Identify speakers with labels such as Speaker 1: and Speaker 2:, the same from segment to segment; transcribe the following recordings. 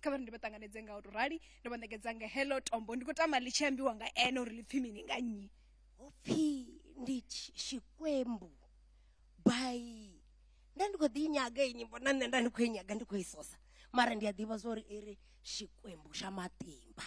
Speaker 1: kha vha ri ndi vha ṱanganedze nga u to rali ndo vha ṋekedza nga hello tombo ndi khou tama ḽi tshi ambiwa nga ene uri ḽi pfhi mini nga nnyi hopfi
Speaker 2: ndi tshikwembu by nda ndi khou ḓi nyaga iyi nyimbo na nṋe nda ndi khou i nyaga ndi khou i sosa mara ndi a ḓivha zwa uri i ri tshikwembu tsha matimba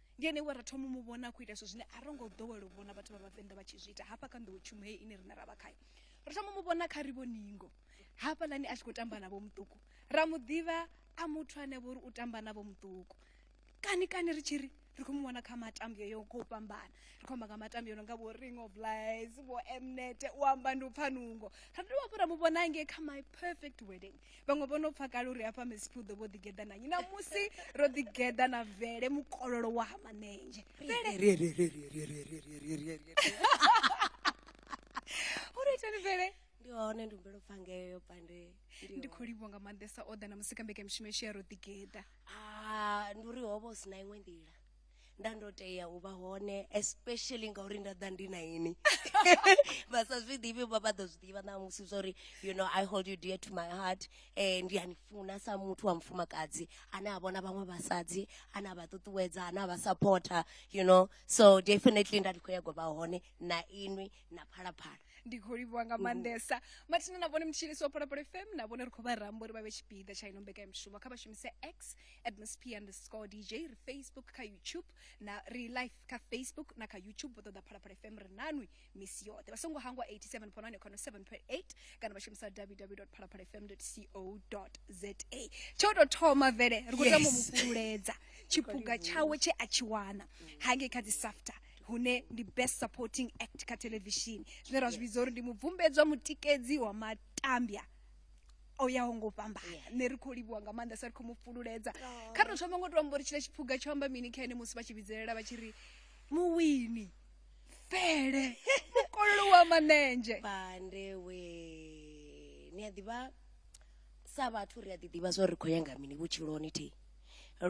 Speaker 1: ndi ene we ra thoma mu vhona a khou ita zwithu zwine a ro ngo ḓowela u vhona vhathu vha vhavenḓa vha tshi zwi ita hafha kha nḓowetshumo heyi ine riṋe ra vha khayo ro thoma mu vhona kha ri vhoningo hafhaḽani a tshi khou tamba navho muṱuku ra mu ḓivha a muthu ane vho uri u tamba navho muṱuku kani kani ri tshi ri ri khou mu vhona kha matambio yo khou fhambana ri khou amba nga matambio no nga vho ring of lies vho mnet u amba ndi u pfa nungo ra dovha hafhu ra mu vhona ngei kha my perfect wedding vhaṅwe vho no pfa kale uri hafha mesipi u ḓo vho ḓigeḓa na nnyi namusi ro ḓigeḓa na vele mukololo wa ha manenzhe u ri itani vele ndi hone ndi humbela u
Speaker 2: pfa ngeyo pande ndi khou livhuwa nga
Speaker 1: maanḓesa o ḓa na musika mbekanyamushumo yeshu ya ro ḓigeḓa Ah, ndi
Speaker 2: uri ho vha hu si na iṅwe nḓila nda ndo tea u vha hone especially ngauri nda ḓa ndi na ini vha sa zwi ḓivhi vha vha ḓo zwi ḓivha na musi zwori you know i hold you dear to my heart eh ndi a ni funa sa muthu wa mufumakadzi ane a vhona vhaṅwe vhasadzi ane a vha ṱuṱuwedza ane a vha supporter you know so definitely nda ndi khou yago vha hone na inwi na phalaphala ndi khou livhuwa nga
Speaker 1: maanḓesa mathina na vhone mutshilisi wa pholapolo fm na vhone ri khou vha ramba uri vha vhe tshipiḓa tsha ino mbekanyamushumo kha vha shumise x atmosp underscore dj ri facebook kha youtube na ri live kha facebook na kha youtube vho ṱoḓa pholapolo fm ri nanwi misi yoṱhe vha songo hangwa 87 ponani khano 7.8 kana vha shumisa www pholapolo fm co za tsho tou thoma vele ri khou tama Yes. mufhululedza tshiphuga tshawe tshe a tshi wana hangei kha dzi safta hune ndi best supporting act kha televishini zwine ra zwi vhidza uri ndi mubvumbedzwa mutikedzi wa matambya o yaho ngo fhambana nṋe ri khou livhuwa nga maanḓa sa ri khou mu fhululedza kha ri thoma ngo to amba uri tshila tshiphuga tsho amba mini kha ene musi vha tshi vhidzelela vha tshi ri muwini fele mukololo wa manenzhe bande we
Speaker 2: ni a ḓivha sa vhathu ri a ḓi ḓivha zwa uri ri khou ya nga mini vhutshiloni thi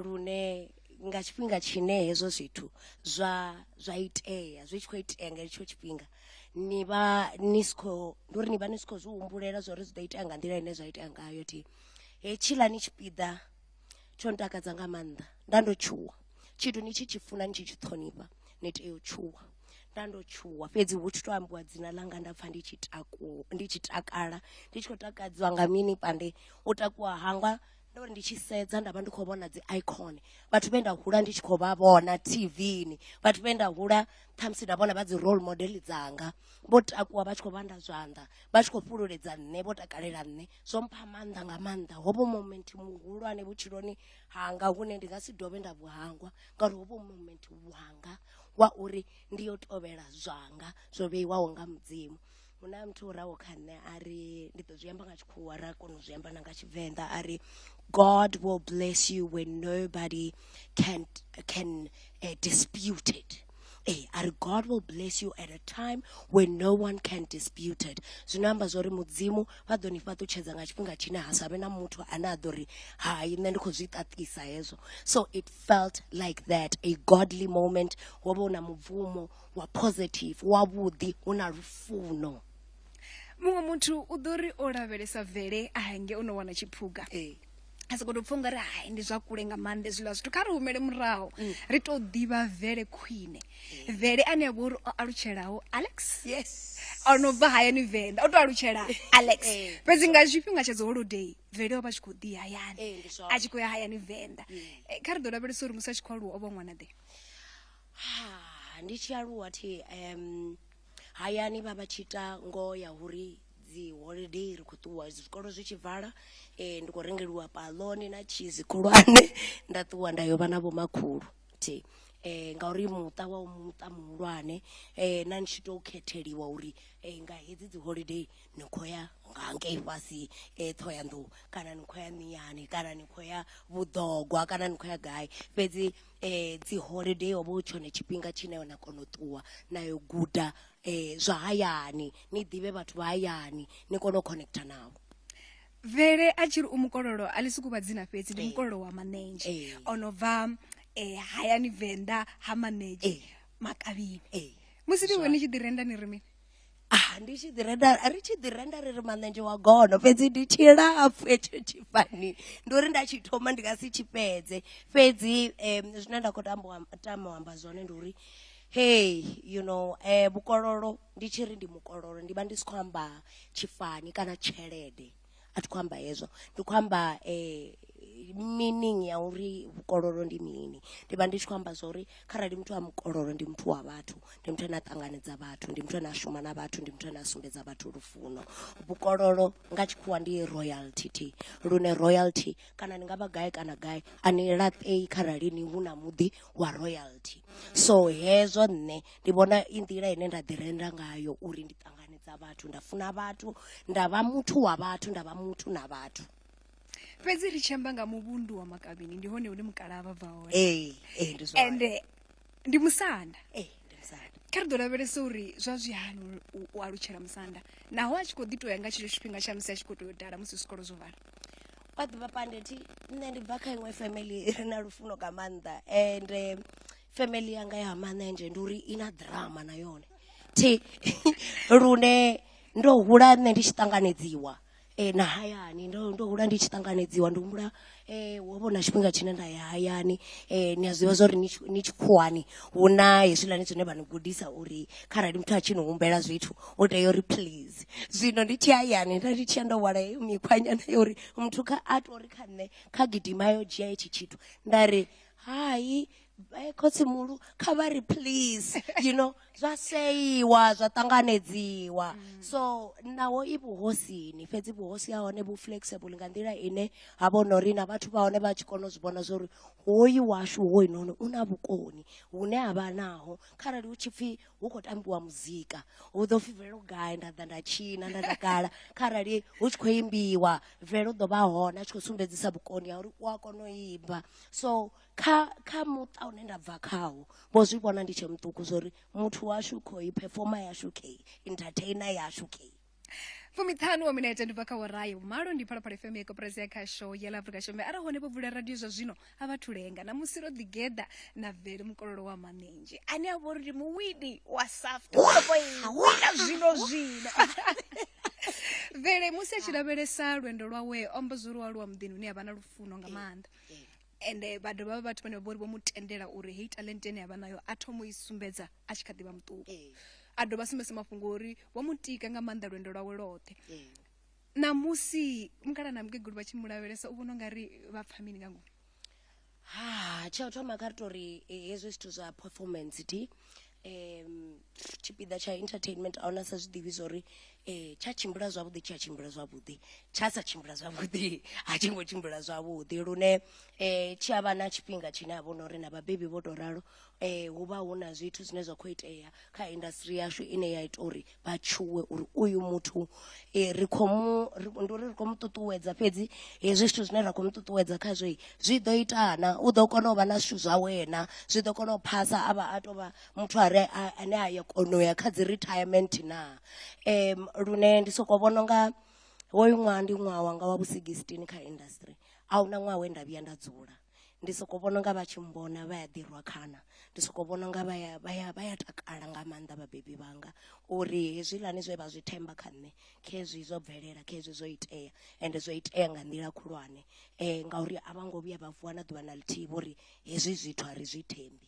Speaker 2: lune nga tshifhinga tshine hezwo zwithu zwa zwa itea zwi tshi khou itea nga hetsho tshifhinga ni vha ni si khou ndi uri ni vha ni si khou zwi humbulela zwa uri zwi ḓo itea nga nḓila ine zwa itea ngayo thi hetshiḽani tshipiḓa tsho ntakadza nga maanḓa nda ndo tshuwa tshithu ni tshi tshi funa ni tshi tshi ṱhonifha ni tea u tshuwa nda ndo tshuwa fhedzi hu tshi to ambiwa dzina ḽanga nda pfha ndi tshi takuwa ndi tshi takala ndi tshi khou takadzwa nga mini pande u takuwa hanga ndo ri ndi tshi sedza nda vha ndi khou vhona dzi icon vhathu vhe nda hula ndi tshi khou vha vhona tvni vhathu vhe nda hula khamusi nda vhona vha dzi role model dzanga vho takuwa vha tshi khou vhanda zwanḓa vha tshi khou fhululedza nṋe vho takalela nṋe zwo mpha maanḓa nga maanḓa hovho moment muhulwane vhutshiloni hanga hune ndi nga si dovhe nda vhuhangwa ngauri hovho moment wanga wa uri ndi yo tovhela zwanga zwo vheiwaho nga mudzimu hu na muthu o raho kha nṋe a ri ndi ḓo zwi amba nga tshikhuwa ra kona u zwi amba na nga tshivenḓa a ri god will bless you when nobody can, can uh, dispute it ee eh, a ri god will bless you at a time when no one can dispute it zwino amba zwa uri mudzimu vha ḓo ni fhaṱutshedza nga tshifhinga tshine ha sa vhe na muthu ane a ḓo ri hai nṋe ndi khou zwi ṱaṱisa hezwo so it felt like that a godly moment wo vha u na mubvumo wa positive wavhuḓi hu na lufuno muṅwe
Speaker 1: muthu u ḓo ri o lavhelesa vele a henge o no wana tshiphuga ee a sokoto pfha ungari hai ndi zwa kule nga maanḓa zwiḽa zwithu kha ri humele murahu mm. ri tou ḓivha vele khwine mm. vele ane a vha uri o alutshelaho alex yes o no bva hayani venḓa o tou alutshela alex eh, fhedzi nga tshifhinga tsha dzi holiday vele o vha tshi khou ḓi hayani eh, a tshi khou ya hayani venḓa mm. eh, kha ri ḓo lavhelesa uri musi a tshi khou aluwa o vha ṅwana ḓe Ndi
Speaker 2: tshi aluwa thi hayani vha vha tshi ita ngoho ya uri dzi holiday ri kho ṱuwa zwikolo zwi tshi vala ndi khou rengeliwa paḽoni na tshizi khulwane nda ṱuwa nda yo vha na vhomakhulu thi ngauri muṱa wa u muṱa muhulwane na ni tshi to khetheliwa uri nga hedzi dzi holiday ni kho ya nga ngei fhasi Ṱhohoyanḓou kana ni khou ya miyani kana ni khou ya vhuḓogwa kana ni khou ya gai fhedzi. um dzi holiday ho vha hu tshone tshifhinga tshine na kona u ṱuwa na yo guda um zwa hayani ni ḓivhe vhathu vha hayani ni kone u connecta navho vele
Speaker 1: a tshiri u mukololo a ḽi suku vha dzina fhedzi ndi mukololo wa manenzhe Ee. o no bva um hayani venḓa ha manenzhe Ee. makavhini Ee. musi ni hone ni tshi ḓi renda ni ri mini ah ndi tshi
Speaker 2: ḓi renda ri tshi ḓi renda ri ri manenzhe wa gono fhedzi ndi tshilapfu hetsho tshifani ndi uri nda tshi thoma ndi nga si tshi fhedze fhedzi um zwine nda khou tambo tama u amba zwone ndi uri hey you know um vhukololo ndi tshi ri ndi mukololo ndi vha ndi si khou amba tshifani kana tshelede a thi khou amba hezwo ndi khou amba meaning ya uri vhukololo ndi mini ndi vha ndi tshi khou amba zwa uri kharali muthu a mukololo ndi muthu wa vhathu ndi muthu ane a ṱanganedza vhathu ndi muthu ane a shuma na vhathu ndi muthu ane a sumbedza vhathu lufuno vhukololo nga tshikhuwa ndi royalty lune royalty kana ni nga vha gai kana gai a ni laṱei kharali ni hu na muḓi wa royalty so hezwo nṋe ndi vhona i nḓila ine nda ḓi renda ngayo uri ndi ṱanganedza vhathu nda funa vhathu nda vha muthu wa vhathu nda vha muthu na vhathu fhedzi
Speaker 1: ri tshi amba nga muvhundu wa makavhini ndi hone hune mukalaha vha bva hone ee ee ndi zwone
Speaker 2: ende
Speaker 1: ndi musanda ee ndi musanda
Speaker 2: kha ri ḓo lavhelesa
Speaker 1: uri zwa zwi hani u- u, u alutshela musanda naho a tshi khou ḓi to ya nga tshetsho tshifhinga tsha musi a tshi khou tea u dala musi zwikolo zwo vala wa ḓivha
Speaker 2: pandeti nṋe ndi bva kha iṅwe family ri na lufuno nga maanḓa and eh, family yanga ya manenzhe ndi uri i na drama na yone thi lune ndo hula nṋe ndi tshi ṱanganedziwa eh, na hayani ndo ndo hula ndi tshi ṱanganedziwa ndi humbula eh, wo vhona tshifhinga tshine nda ya hayani eh, ni a zwiḓivha zwa uri ni tshikhuwani hu na hezwiḽani zwine vha ni gudisa uri kharali muthu a tshi ni humbela zwithu u tea uri please zwino ndi tshi hayani nda ndi tshi ya ndo wala heyo mikhwanyana ya uri muthu kha a tori kha nṋe kha gidima yo dzhia hetshi tshithu nda ri hai eh, khotsimuhulu kha vha ri please you know zwa seiwa zwa ṱanganedziwa mm. so naho i vhuhosini fhedzi vhuhosi ha hone vhu flexible nga nḓila ine ha vha no ri na vhathu vha hone vha tshi kona u zwi vhona zwa uri hoyu washu hoyunoni u na vhukoni hune a vha naho kharali hu tshi pfhi hu khou tambiwa muzika hu ḓo pfhi bvelo gai nda ḓa nda tshina nda takala kharali hu tshi khou imbiwa bvelo ḓo vha hone a tshi khou sumbedzisa vhukoni ha uri u a kona u imba so kha kha muṱa une nda bva khawo vho zwi vhona ndi tshe muṱuku zwa uri muthu washu khou phefoma yashu kheyi entertainer yashu kheyi fumiṱhanu
Speaker 1: wa minete ndi bva kha worayi vhumalo ndi phalaphala fm ya koporasi ya khasho ya la afrika shombe arali hone vho vula radio zwa zwino a vha thulenga na musi ro ḓigeḓa na vele mukololo wa maminzhi ane a vha uri ndi muwini wa saft sopo iwina zwino zwino vele musi a tshi lavhelesa lwendo lwawe ombo zwo lualuwa muḓini hune a vha na lufuno nga maanḓa ende vha dovha vha vhathu vhane vha vhori vho mu tendela uri heyi talente ine yavha nayo a thoma u i sumbedza a tshi kha ḓivha muṱuku a dovha sumbedza mafhungo uri vho mu tika nga maanḓa lwendo lwawe lwoṱhe ṋamusi mukala na mukegulu vha tshi mu lavhelesa u vhona ungari vha pfha mini nga ngomu ha
Speaker 2: tsha u thoma kha ri tori hezwi zwithu zwa performance thi um tshipiḓa tsha entertainment a huna sa zwi ḓivhi zwa uri um tsha tshimbila zwavhuḓi tshi a tshimbila zwavhuḓi tsha sa tshimbila zwavhuḓi a tshi ngo tshimbila zwavhuḓi lune um tshi a vha na tshifhinga tshine ha vha hu no uri na vhabebi vho tou ralo um hu vha hu na zwithu zwine zwa khou itea kha industry yashu ine ya ita uri vha tshuwe uri uyu muthu um ri khou mu ndi uri ri khou mu ṱuṱuwedza fhedzi hezwi zwithu zwine ra khou mu ṱuṱuwedza khazwo zwi ḓo ita na u ḓo kona u vha na zwithu zwa wena zwi ḓo kona u phasa a vha a tou vha muthu a re ane a ya kona u ya kha dzi retirement na um lune ndi sokou vhona unga hoyu ṅwaha ndi ṅwaha wanga wa vhu sixteen kha industry a huna ṅwaha we nda vhuya nda dzula ndi soko vhona unga vha tshi mmbona vha ya ḓi rwa khana ndi soko vhona unga vha ya vha ya vha ya takala nga maanḓa vhabebi vhanga uri hezwiḽani zwe vha zwi themba kha nṋe khezwi zwo bvelela khezwi zwo itea ende zwo itea nga nḓila khulwane um ngauri a vho ngo vhuya vha vuwa na ḓuvha na ḽithihi vho ri hezwi zwithu a ri zwi thembi.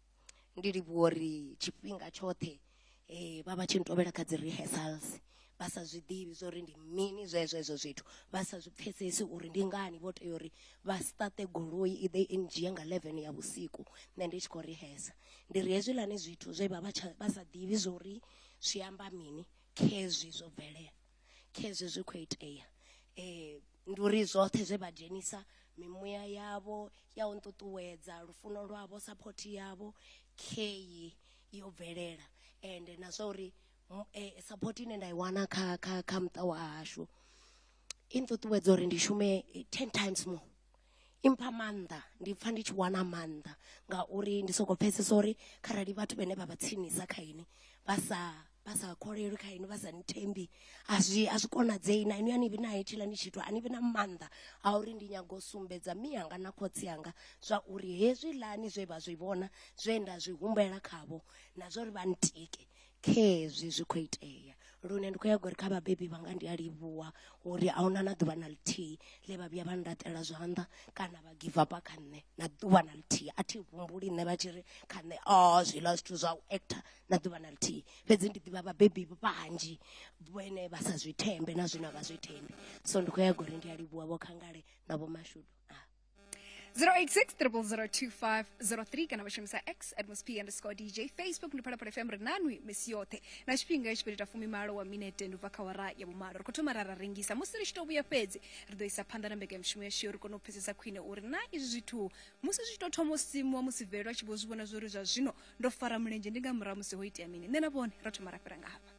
Speaker 2: ndi livhuwa uri tshifhinga tshoṱhe um vha vha tshi ntovhela kha dzi rehearsals vha sa zwi ḓivhi zwa uri ndi mini zwezwo hezwo zwithu vha sa zwi pfhesesi uri ndi ngani vho tea uri vha siṱate goloi i ḓe i ndzhie nga eleven ya vhusiku nṋe ndi tshi khou rehesa ndi ri hezwiḽani zwithu zwe vha vha tsha vha sa ḓivhi zwa uri zwi amba mini khezwi zwo bvelela khezwi zwi khou itea um ndi uri zwoṱhe zwe vha dzhenisa mimuya yavho ya u nṱuṱuwedza lufuno lwavho saphothi yavho kheyi yo bvelela ende na zwa uri eh, saphothi ine nda i wana kha kha kha muṱa wa hashu i nṱuṱuwedza uri ndi shume eh, ten times more i mpha maanḓa ndi pfa ndi tshi wana maanḓa ngauri ndi soko pfhesesa uri kharali vhathu vhane vha vha tsinisa kha ini vha sa vha sa kholelwi kha inwi vha sa nthembi a zwi a zwi konadzei na inwi a ni vhi na hetshila ni tshithu a ni vhi na maanḓa a uri ndi nyago u sumbedza mi anga na khotsi anga zwa uri hezwi lani zwe vha zwi vhona zwe nda zwi humbela khavho na zwa uri vha ntike khezwi zwi khou itea lune ndi khou ya gori kha vhabebi vhanga ndi a livhuwa uri a huna na ḓuvha na ḽithihi ḽe vha vhuya vha ndaṱela zwanḓa kana vha give up kha nṋe na ḓuvha na ḽithihi a thi humbuli nṋe vha tshi ri kha nṋe o oh, zwiḽa zwithu zwa u actor na ḓuvha na ḽithihi fhedzi ndi ḓivha vhabebi vhanzhi vhene vha sa zwi thembe na zwine a vha zwi thembi so ndi khou ya gori ndi a livhuwa vho khangale na vho mashudu 086
Speaker 1: 0002503 kana vashumisa x at msp underscore dj facebook ndi phalaphala fm ri nanwi misi yoṱhe na tshifhinga itshi fhirita fumimalo wa minete ndi ubva kha wara ya vhumalo ri khou thoma ra ra rengisa musi ri tshi to vhuya fhedzi ri ḓo isa phanḓa na mbekanyamushumo yashu yo ri kone u pfesesa khwine uri na izwi zwithu musi zwi tshi to thoma u simuwa musi velwa tshi vho zwi vhona zwori zwa zwino ndo fara mulenzhe ndi nga murahu musi ho itea mini nṋe na vhone ra thoma ra fhira nga hafha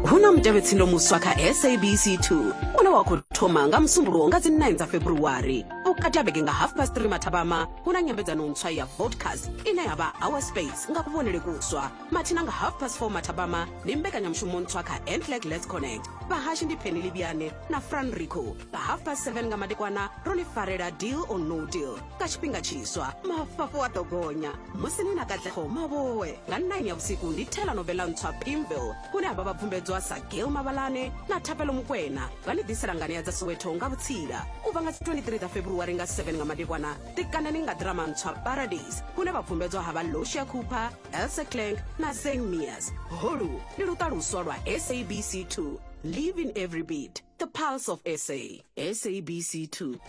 Speaker 3: hu na mutevhetsindo muswa kha sabc 2 une wa khou thoma nga musumbuluwo nga dzi 9 dza february vhukati ha vhege nga half past 3 mathabama hu na nyambedzano ntswa ya vodcast ine ya vha our space nga kuvhonele kuswa mathina nga half past 4 mathabama ndi mbekanyamushumo ntswa kha ntlag lets connect vhahashi ndi pheni livhiane na franrico nga half past 7 nga madekwana ro ni farela deal or no deal nga tshifhinga tshiswa mafhafhu a ḓo gonya musi ni na katlego mavhowe nga 9 ya vhusiku ndi thela novela ntswa pimville hune ha vha vha bvumbedzwa sa gail mabalane na thapelo mukwena vha ni ḓisela nganea dza soweto nga vhutsila u bva nga 23 dza february nga 7 nga madekwana tikanani nga drama ntswa paradise hune vha bvumbedzwa ha vha losia cooper elsa clank na sang mias holu ndi luṱaluswa lwa sabc 2 Live in every beat. The pulse of SA. SABC 2.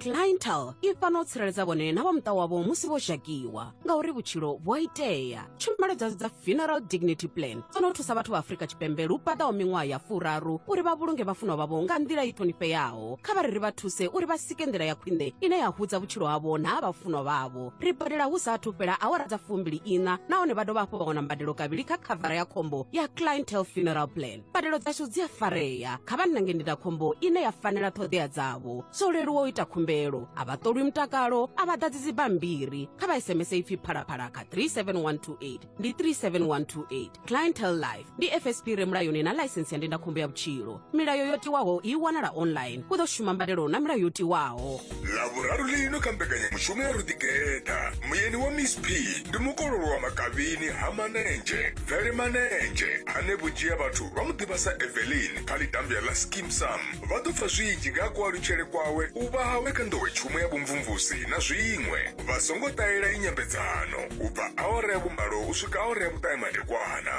Speaker 3: clientele i fana u tsireledza vhone na vha muṱa wavho musi vho zhakiwa ngauri vhutshilo vhu a itea tshumelo dza dza funeral dignity plan dzo no thusa vhathu vha afrika tshipembe lu paḓaho miṅwaha ya furaru uri vha vhulunge vhafunwa vhavho nga nḓila i ṱhonifheaho kha vha ri ri vha thuse uri vha sike nḓila ya khwine ine ya hudza vhutshilo havho na ha vhafunwa vhavho ri badela hu sa athu fhela awara dza fumbili ina nahone vha dovha hafhu vha wana mbadelo kavhili kha khavara ya khombo ya clientele funeral plan mbadelo dzashu dzi a farea kha vha nnange ndindakhombo ine ya fanela ṱhoḓea dzavho zwo leluwa u ita khumbelo a vha ṱolwi mutakalo a vha ḓadzi dzibammbiri kha vha sms ipfi phalaphala kha 37128 ndi 37128 clientel life ndi fsp re mulayoni na ḽaisensi ya ndindakhombo ya vhutshilo milayo yo tiwaho i wanala online u ḓo shuma mbadelo na milayo yo tiwaho lavhuraru lino
Speaker 4: kha mbekanyamushumo ya ruḓigeta muyeni wa miss p ndi mukololo wa makavhini ha manenzhe bvele manenzhe ane vhunzhi ha vhathu vha mu ḓivha sa evelin kha ḽitambya ḽa skim sam vha ḓo pfa zwinzhi nga ha kualutshele kwawe u vha hawe kha nḓowetshumo ya vhumvumvusi na zwiṅwe vha songo ṱahela inyambedzano u bva awara ya vhumalo u swika awara ya vhuṱahe madekwana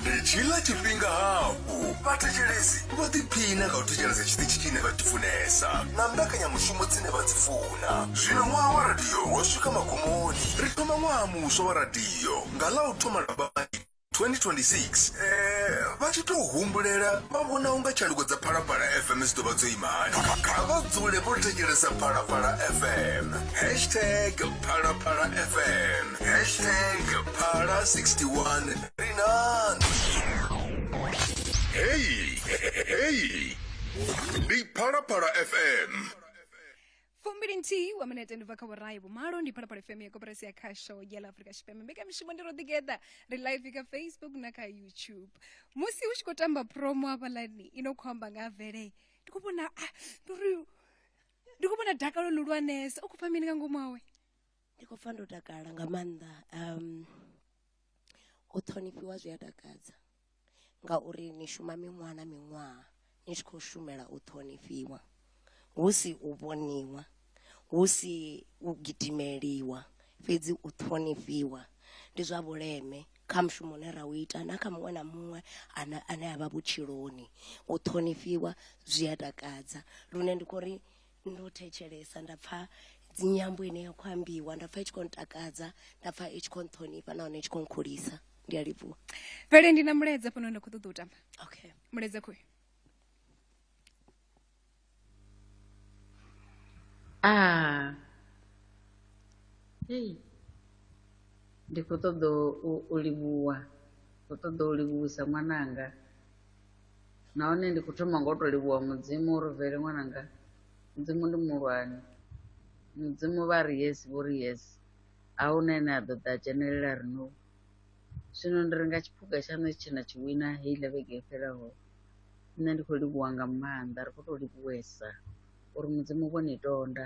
Speaker 4: ndi tshila tshifhinga hafhu vhathetshelesi vho ḓiphina nga u thetshelesa tshiṱitshi tshine vha tshi funesa na mbekanyamushumo dzine vha dzi funa zwino ṅwaha wa radio wo swika magumoni ri thoma ṅwaha muswa wa radio nga ḽa u thoma lambani 2026 eh, vha tshi tou humbulela vha vhona unga tshanduko dza phalaphala fm dzi ḓo vha dzo ima hani kha vha dzule vho thetshelesa phalaphala fm hashtag phalaphala fm hashtag phala 61 ri nani heyi heyi ndi phalaphala fm fumbili
Speaker 1: nthihi wa minete ndi bva kha vhurayi vhumalo ndi phalaphala fm ya koporasi ya khasho ya la afrika tshipembe mbekamishumo ndi ro ḓigeḓa ri live kha facebook na kha youtube musi hu tshi khou tamba promo hafhalani i no khou amba nga vele ndi khou vhona ah, ndi uri ndi khou vhona dakalo luhulwanesa u khou pfa mini nga ngomu awe ndi khou pfa ndo
Speaker 2: takala nga maanḓa um u ṱhonifhiwa zwi a takadza ngauri ni shuma miṅwaha na miṅwaha ni tshi khou shumela u ṱhonifhiwa hu si u vhoniwa hu si u gidimeliwa fhedzi u ṱhonifhiwa ndi zwa vhuleme kha mushumo une ra u ita na kha muṅwe na muṅwe ane ane a vha vhutshiloni u ṱhonifhiwa zwi a takadza lune ndi khou ri Ndi u thetshelesa nda pfha nyambo ine ya khou ambiwa nda pfha i tshi khou ntakadza nda pfha i tshi khou nṱhonifha nahone i tshi khou nkhulisa ndi a livhuwa vele ndi na
Speaker 1: mulaedza fhano nda khou ṱoḓa u tamba okay mulaedza
Speaker 2: khoyo
Speaker 1: ah
Speaker 5: hey ndi khou ṱoḓa u livhuwa khou ṱoḓa u livhuwisa ṅwananga nahone ndi khou thoma nga u tou livhuwa mudzimu uri vele ṅwananga mudzimu ndi muhulwane mudzimu vha ri yes vho ri yes a hu na ene a ḓo ḓa a dzhenelela ri no zwino ndi ri nga tshiphuga tshaṋu tshi na tshi wina heiḽa vhege yo fhelaho nṋe ndi khou livhuwa nga maanḓa ri khou tou livhuwesa uri mudzimu vho ni tonda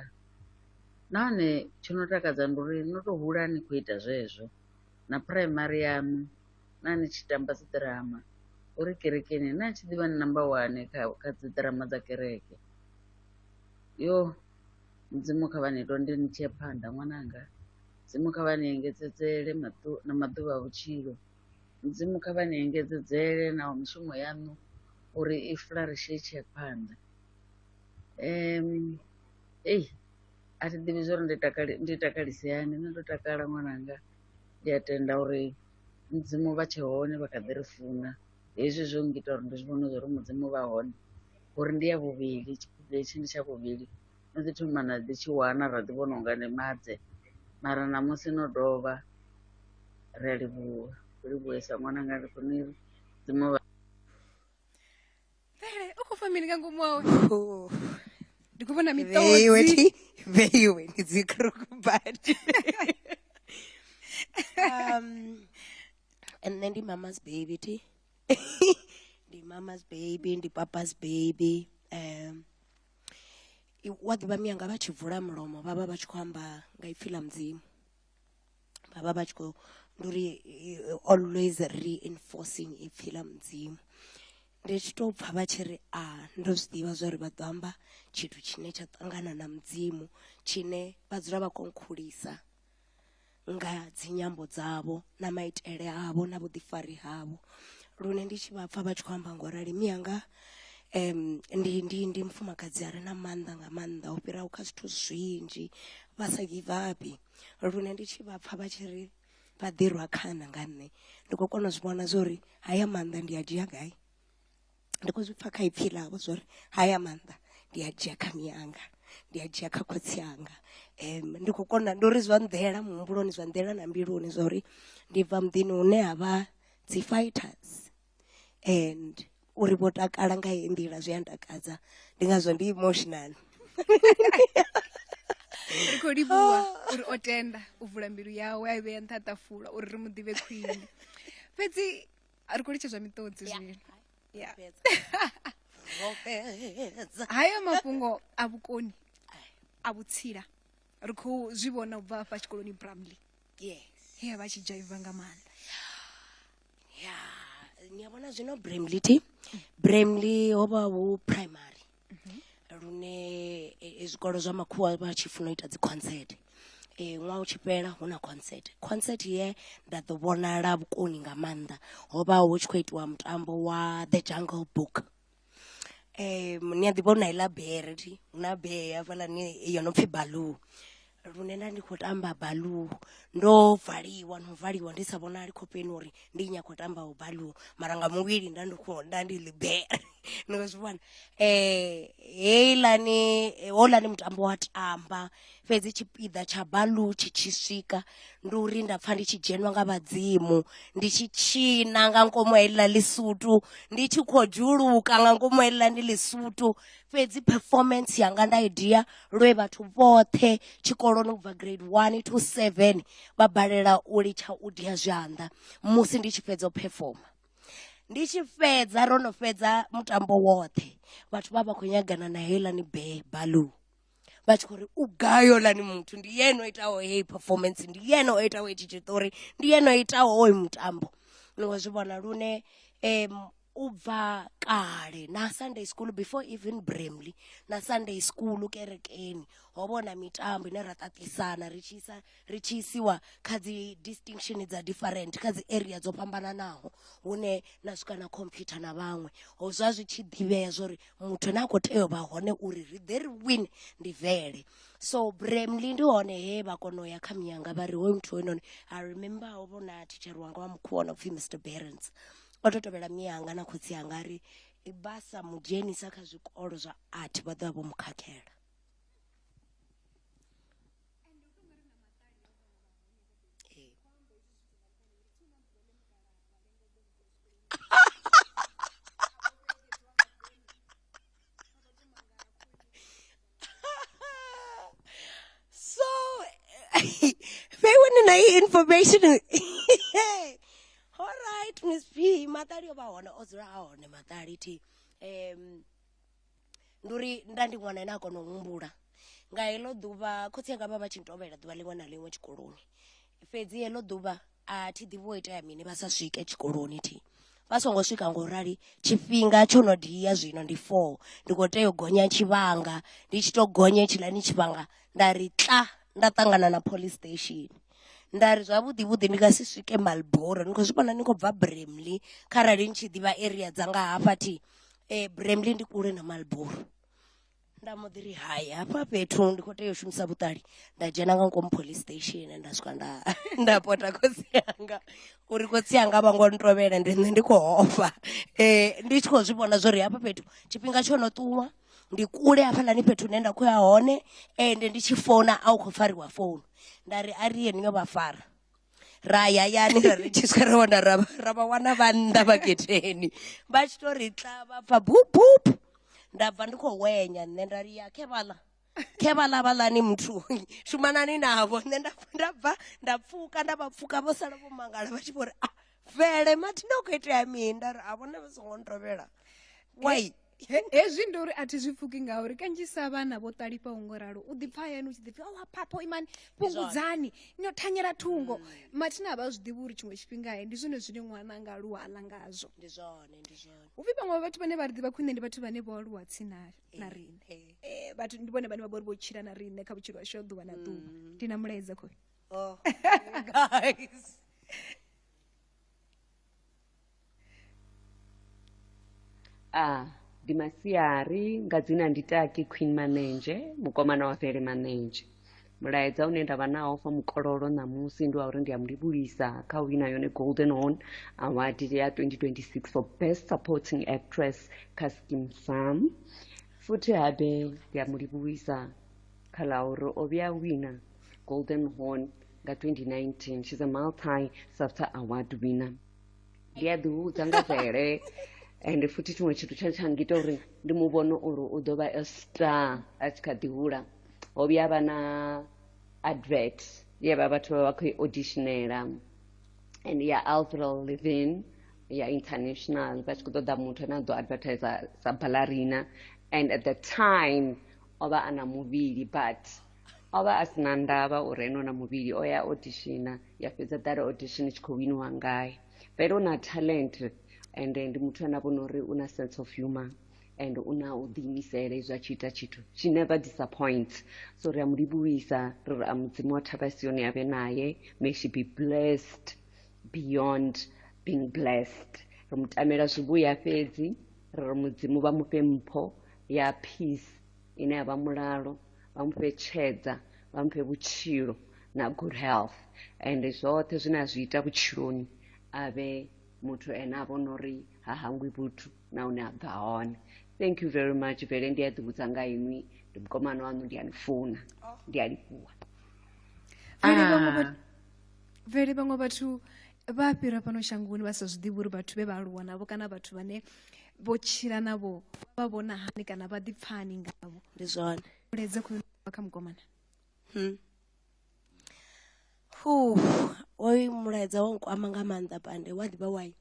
Speaker 5: nahone tsho no takadza ndi uri no to hula ni khou ita zwezwo na phuraimari yaṋu na ni tshi tamba dzi ḓirama uri kerekeni na tshi ḓivha ni namba wane kha kha dzi ḓirama dza kereke yo mudzimu kha vha ni londe ni tshie phanḓa ṅwananga mudzimu kha vha ni engedzedzele maḓu na maḓuvha a vhutshilo mudzimu kha vha ni engedzedzele na mishumo yaṋu uri i fularishe i tshie phanḓa ei a thi ḓivhi zwori ndi takale ndi takalise hani nṋe ndo takala ṅwananga. ndi a tenda uri mudzimu vha tshe hone vha kha ḓi ri funa hezwi zwo ngita uri ndi zwi vhone zwa uri mudzimu vha hone uri ndi ya vhuvhili tshipiḓa hetshi ndi tsha vhuvhili no ḓi thoma na ḓi tshi wana ra ḓi vhona unga ndi madze mara ṋamusi no dovha ri a livhuwa ri livhuwesa ṅwananga ndi khou ni dzimu vha
Speaker 1: mvele u khou fha mini nga ngomu awe oh. ndi khou vhona miṱozi
Speaker 2: veiwe ndi dzikrokubadi um, and then the mama's baby ti the mama's baby the papa's baby um wa ḓivha miyanga vha tshi vula mulomo vha vha vha tshi khou amba nga ipfhi ḽa mudzimu vhavha vha tshi khou ndi uri always reinforcing ipfhi ḽa mudzimu ndi tshi tou pfha vha tshi ri a ndo zwi ḓivha zwa uri vha ḓo amba tshithu tshine tsha ṱangana na mudzimu tshine vha dzula vha konkhulisa nga dzinyambo dzavho na maitele avho na vhuḓifari havho lune ndi tshi vha pfha vha tshi khou amba ngo rali miyanga um ndi ndi ndi mufumakadzi a re na maanḓa nga maanḓa u fhiraho kha zwithu zwinzhi vha sa give up lune ndi tshi vha pfha vha tshi ri vha ḓirwa khana nga nṋe ndi khou kona u zwi vhona zwa uri haya maanḓa ndi a dzhia gai ndi khou zwi pfha kha ipfhi ḽavho zwa uri haya maanḓa ndi a dzhia kha miyanga ndi a dzhia kha khotsi anga um ndi khou kona ndi uri zwa nḓela muhumbuloni zwa nḓela na mbiluni zwa uri ndi bva muḓini hune ha vha dzi fighters and uri vho takala nga heyi nḓila zwi a ntakadza ndi ngazwo ndi emotional
Speaker 1: ri khou livhuwa ah. uri o tenda u vula mbilu yawe a i vhea nṱha ṱafula uri ri mu ḓivhe khwine fhedzi ri khou litshedzwa miṱodzi zwino hayo mafhungo a vhukoni a vhutsila ri khou zwi vhona u bva afha tshikoloni bramley yes
Speaker 2: ya vha tshi dzhaiva
Speaker 1: nga maanḓa
Speaker 2: ya ni a vhona zwino bramley t bramley ho vha hu primary lune e, e, zwikolo zwa makhuwa vha tshi funa u ita dziconcert um ṅwaha u tshi fhela hu na concert concert ye nda ḓo vhonala vhukoni nga maanḓa ho vha hu tshi khou itiwa mutambo wa the jungle book um ni a ḓivha uri na iḽa bere thi hu na bee hafhaḽani yo no pfhi baloo lune nda ndi khou tamba baloo ndo valiwa no valiwa ndi sa vhonali khofheni uri ndi nyakho tamba u baloo mara nga muvhili nda ndi kho nda ndi ḽi bere ni khou zwi vhona um heiḽani houḽani mutambo wa tamba fhedzi tshipiḓa tsha baḽu tshi tshi swika ndi uri nda pfha ndi tshi dzhenwa nga vhadzimu ndi tshi tshina nga ngomu heḽa lisutu ndi tshi khou dzhuluka nga ngomu heḽa ndi lisutu fhedzi performance yanga nda i dia lwe vhathu vhoṱhe tshikoloni ubva grade 1 to 7 vha balela u litsha u dia zwanḓa musi ndi tshi fhedza u performa ndi tshi fhedza ro no fhedza mutambo woṱhe vhathu vha vha khou nyagana na heilani be baḽu vha tshi khou ri u gai holani muthu ndi yene o itaho heyi performance ndi yene o itaho hetshi tshiṱori ndi yene o itaho hoyu mutambo ni nga zwi vhona lune um u bva kale na sunday school before even bramley na sunday school kerekeni ho vha hu na mitambo ine ra ṱaṱisana ri tshi isa ri tshi isiwa kha dzi distinction dza different kha dzi area dzo fhambananaho hune na swika na computer na vhaṅwe ho zwa zwi tshi ḓivhea zwori muthu na kho tea u vha hone uri ri ḓe ri win ndi vele so bremli ndi hone he vha kona u ya kha miyanga vha ri hoyu muthu hoyunoni i remember ho vhona thitshere wanga wa mukhuwa no pfhi mr berens o to tovhela miyanga na khotsi anga ri vha sa mu dzhenisa kha zwikolo zwa art vha ḓo vha vho mu khakhela information all right miss b maṱali o vha hone o dzula a hone maṱali thi um ndi uri nda ndi ṅwana ane a kona u humbula nga heḽo ḓuvha khotsi anga vha vha tshi ntovhela ḓuvha ḽiṅwe na ḽiṅwe tshikoloni fhedzi heḽo ḓuvha a thi ḓivhi wo itea mini vha sa swike tshikoloni thi vha songo swika ngo rali tshifhinga tsho no dia zwino ndi four ndi kho tea u gonya tshivhanga ndi tshi to gonya tshiḽani tshivhanga nda ri tla nda ṱangana na police station nda ri zwavhuḓi vhuḓi ndi nga si swike malboro ni khou zwi vhona ni khou bva bramley kharali ni tshi ḓivha area dza nga hafha thi eh bremley ndi kule na malboro nda mbo ḓi ri hai hafha fhethu ndi khou tea u shumisa vhuṱali nda dzhena nga ngomu police station nda swika nda nda pota khotsi yanga uri khotsi yanga vha ngo ntovhela ndi nṋe ndi khou ofha um ndi tshi khou zwi vhona zwo ri hafha fhethu tshifhinga tsho no ṱuwa ndi kule hafhaḽani fhethu hune nda khou ya hone ende ndi tshi founa a u khou fariwa founu nda ri a ri yeniyo vha fara ra ya yani ra redzhiswa ra wana ra ra vha wana vha nnḓa vha getheni vha tshi to ri tla vha pfa bubup nda bva ndi khou wenya nṋe nda ri ya khe vhala khe vhala vhalani muthu shumanani navho nṋe nda nda bva nda pfuka nda vha pfuka vho sala vho mangala vha tshi vho ri a ah, vele mathina u khou itea mini nda ri a vhone vha songo ntovhela wai hezwi ndi
Speaker 1: uri a thi zwi pfuki ngauri kanzhisa vhana vho ṱalifhaho ngo ralo u ḓipfa hayani u tshi ḓipfi owa oh, phapho imani fhungudzani no thanyela thungo mm. mathina a vha zwi ḓivhi uri tshiṅwe tshifhinga he ndi zwone zwine ṅwana nga aluwa a ḽa ngazwo ndi zwone ndi zwone
Speaker 2: hu pfi vhaṅwe vhathu
Speaker 1: vhane vha ri ḓivha khwine ndi vhathu vhane vho aluwa tsini na riṋe um vhathu ndi vhone vhane vha vha uri vho tshila na riṋe kha vhutshilo hashu ha ḓuvha na ḓuvha mm. ndi na mulaedza khoi oh, guys
Speaker 6: Ah, ndi masiari nga dzina ndi taki queen manenzhe mukomana wa fhele manenzhe mulaedza une ndavha nawo fa mukololo ṋamusi ndi wa uri ndi a mu livhulisa kha u wina yone golden horn award ya 2026 for best supporting actress kha skim farm futhi habe ndi a mu livhuwisa kha ḽa uri o vhuya a wina golden horn nga 2019 she's a multi safta award winner ndi a ḓihudza nga vele and futhi tshiṅwe tshithu tsha tsha ngita uri ndi mu vhone uri u ḓo vha a star a tshi kha ḓi hula ho vhuya vha na advert ye vha vhathu vha vha khou i auditionela and ya alvril livin ya international vha tshi khou ṱoḓa muthu ane a ḓo advertisa sa ballerina and at the time o vha a na muvhili but o vha a si na ndavha uri enona muvhili o ya odishina ya fhedza ḓala odishini tshi khou winiwa ngae vele u na talent and ndi muthu ane a vhona uri u na sense of humor and u na u ḓiimisela izwi a tshi ita tshithu she never disappoints so ri a mu livhuwisa ri ri a mudzimu wa thavha sioni a vhe naye may she be blessed beyond being blessed ri mu tamela zwivhuya fhedzi ri ri mudzimu vha mufhe mpho ya peace ine ya vha mulalo vha mu fhe tshedza vha mu fhe vhutshilo na good health and zwoṱhe zwine a zwi ita vhutshiloni a vhe muthu ene a vhona uri ha hangwi vhuthu na hune a bva hone thank you very much vele ndi a ḓivhudza nga inwi ndi mukomana waṋu ndi a ni funa ndi a livhuwa vele vhaṅwe vha-
Speaker 1: vele vhaṅwe vhathu vha fhira fhano shangoni vha sa zwi ḓivhi uri vhathu vhe vha aluwa navho kana vhathu vhane vho tshila navho vha vhona hani kana vha ḓipfani ngavho ndi zwone
Speaker 2: muledze khou vha
Speaker 1: kha mukomana
Speaker 2: hmm. hu oyu mulaedza wa nkwama nga maanḓa pande wa ḓivha wai um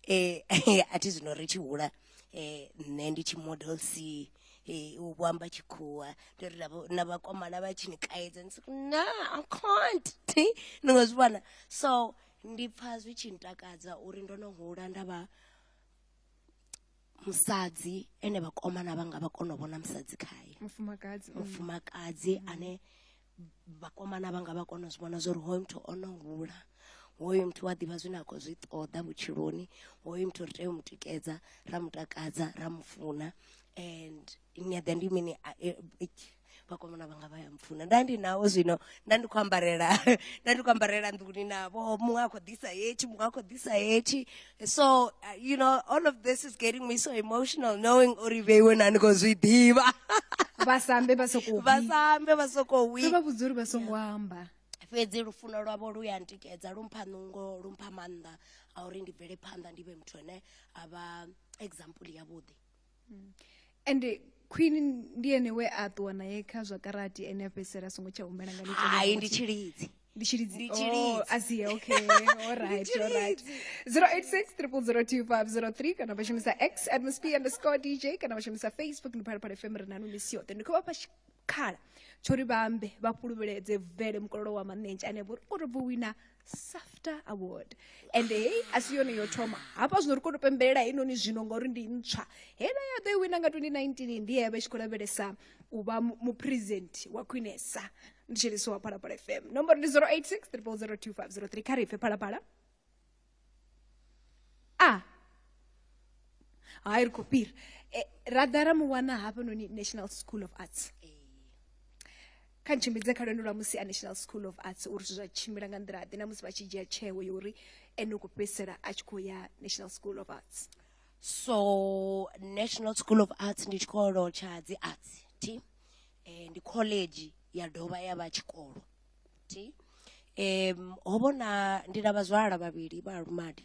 Speaker 2: eh, a thi zwino ri tshi hula um nṋe ndi tshi model c Hey, u vho amba tshikhuwa ndi ri navho- na vhakomana vha tshi ni kaidza ni si na i can't Thi, ni nga zwi vhona so ndi pfha zwi tshi ntakadza uri ndo no hula nda vha musadzi ene vhakomana vhanga vha kona u vhona musadzi khaye mufumakadzi mm. mufumakadzi ane vhakomana vhanga vha kona u zwi vhona zwa uri hoyu muthu o no hula hoyu muthu wa ḓivha zwine a khou zwi ṱoḓa vhutshiloni hoyu muthu ri tea u mu tikedza ra mu takadza ra mu funa and nyaḓa ndi mini eh, vhakomana vhanga vha ya mpfuna nda ndi nawo zwino nda ndi khou ambarela nda ndi khou ambarela nḓuni navho muṅwe a khou ḓisa hetshi muṅwe a khou ḓisa hetshi So, uh, you know, all of this is getting me so emotional knowing uri vheiwe nani ko zwi ḓivha. Vhasambe
Speaker 1: vha sokou vhi. Vhasambe vha sokou
Speaker 2: wi. Vha vhudza uri vha
Speaker 1: songo amba. Fhedzi lufuno
Speaker 2: lwavho lu ya ntikedza lu mpha nungo lu mpha maanḓa a uri ndi bvele phanḓa ndi vhe muthu ane a vha example yavhuḓi. hmm.
Speaker 1: ende khwini ndi ene we a ṱuwa naye kha zwa karati ene a fhedzisela a songo tsha humela nga hai ndi tshilidzi
Speaker 2: ndi tshilidzi
Speaker 1: oh, asie okay alright alright 086 002503 kana vha shumisa x atmosp underscore dj kana vha shumisa facebook ndi phalaphala fm ri nanu misi yoṱhe ndi khou vha fha tshikhala tsho ri vha ambe vha fhuluvheledze vele mukololo wa manentsha ane vho ri o to bvo wina safter award and hei asi yone yo thoma hafha zwino ri kone u pembelela heinoni zwino ngauri ndi ntswa heiḽa ya ḓo i wina nga 2019 ndi yevha i tshi khou lavhelesa u vha mupresent wa khwinesa ndi tshiliso wa phalaphala fm nomboro ndi 086 3002503 kha ri pfe phalaphala a ah. hai ri khou fhira eh, ra ḓa ra mu wana hafhanoni national school of arts kha ntshimbidze kha lwendo lwa musi a national school of arts uri zwithu zwa tshimbila nga nḓila ḓe na musi vha tshi dzhia tsheo ya uri ene u khou fhedzisela a tshi khou ya national school of arts so
Speaker 2: national school of arts ndi tshikolo tsha dzi arts ti eh, ndi college ya dovha ya vha tshikolo ti um ho vhona ndi na vhazwala vhavhili vha lumadi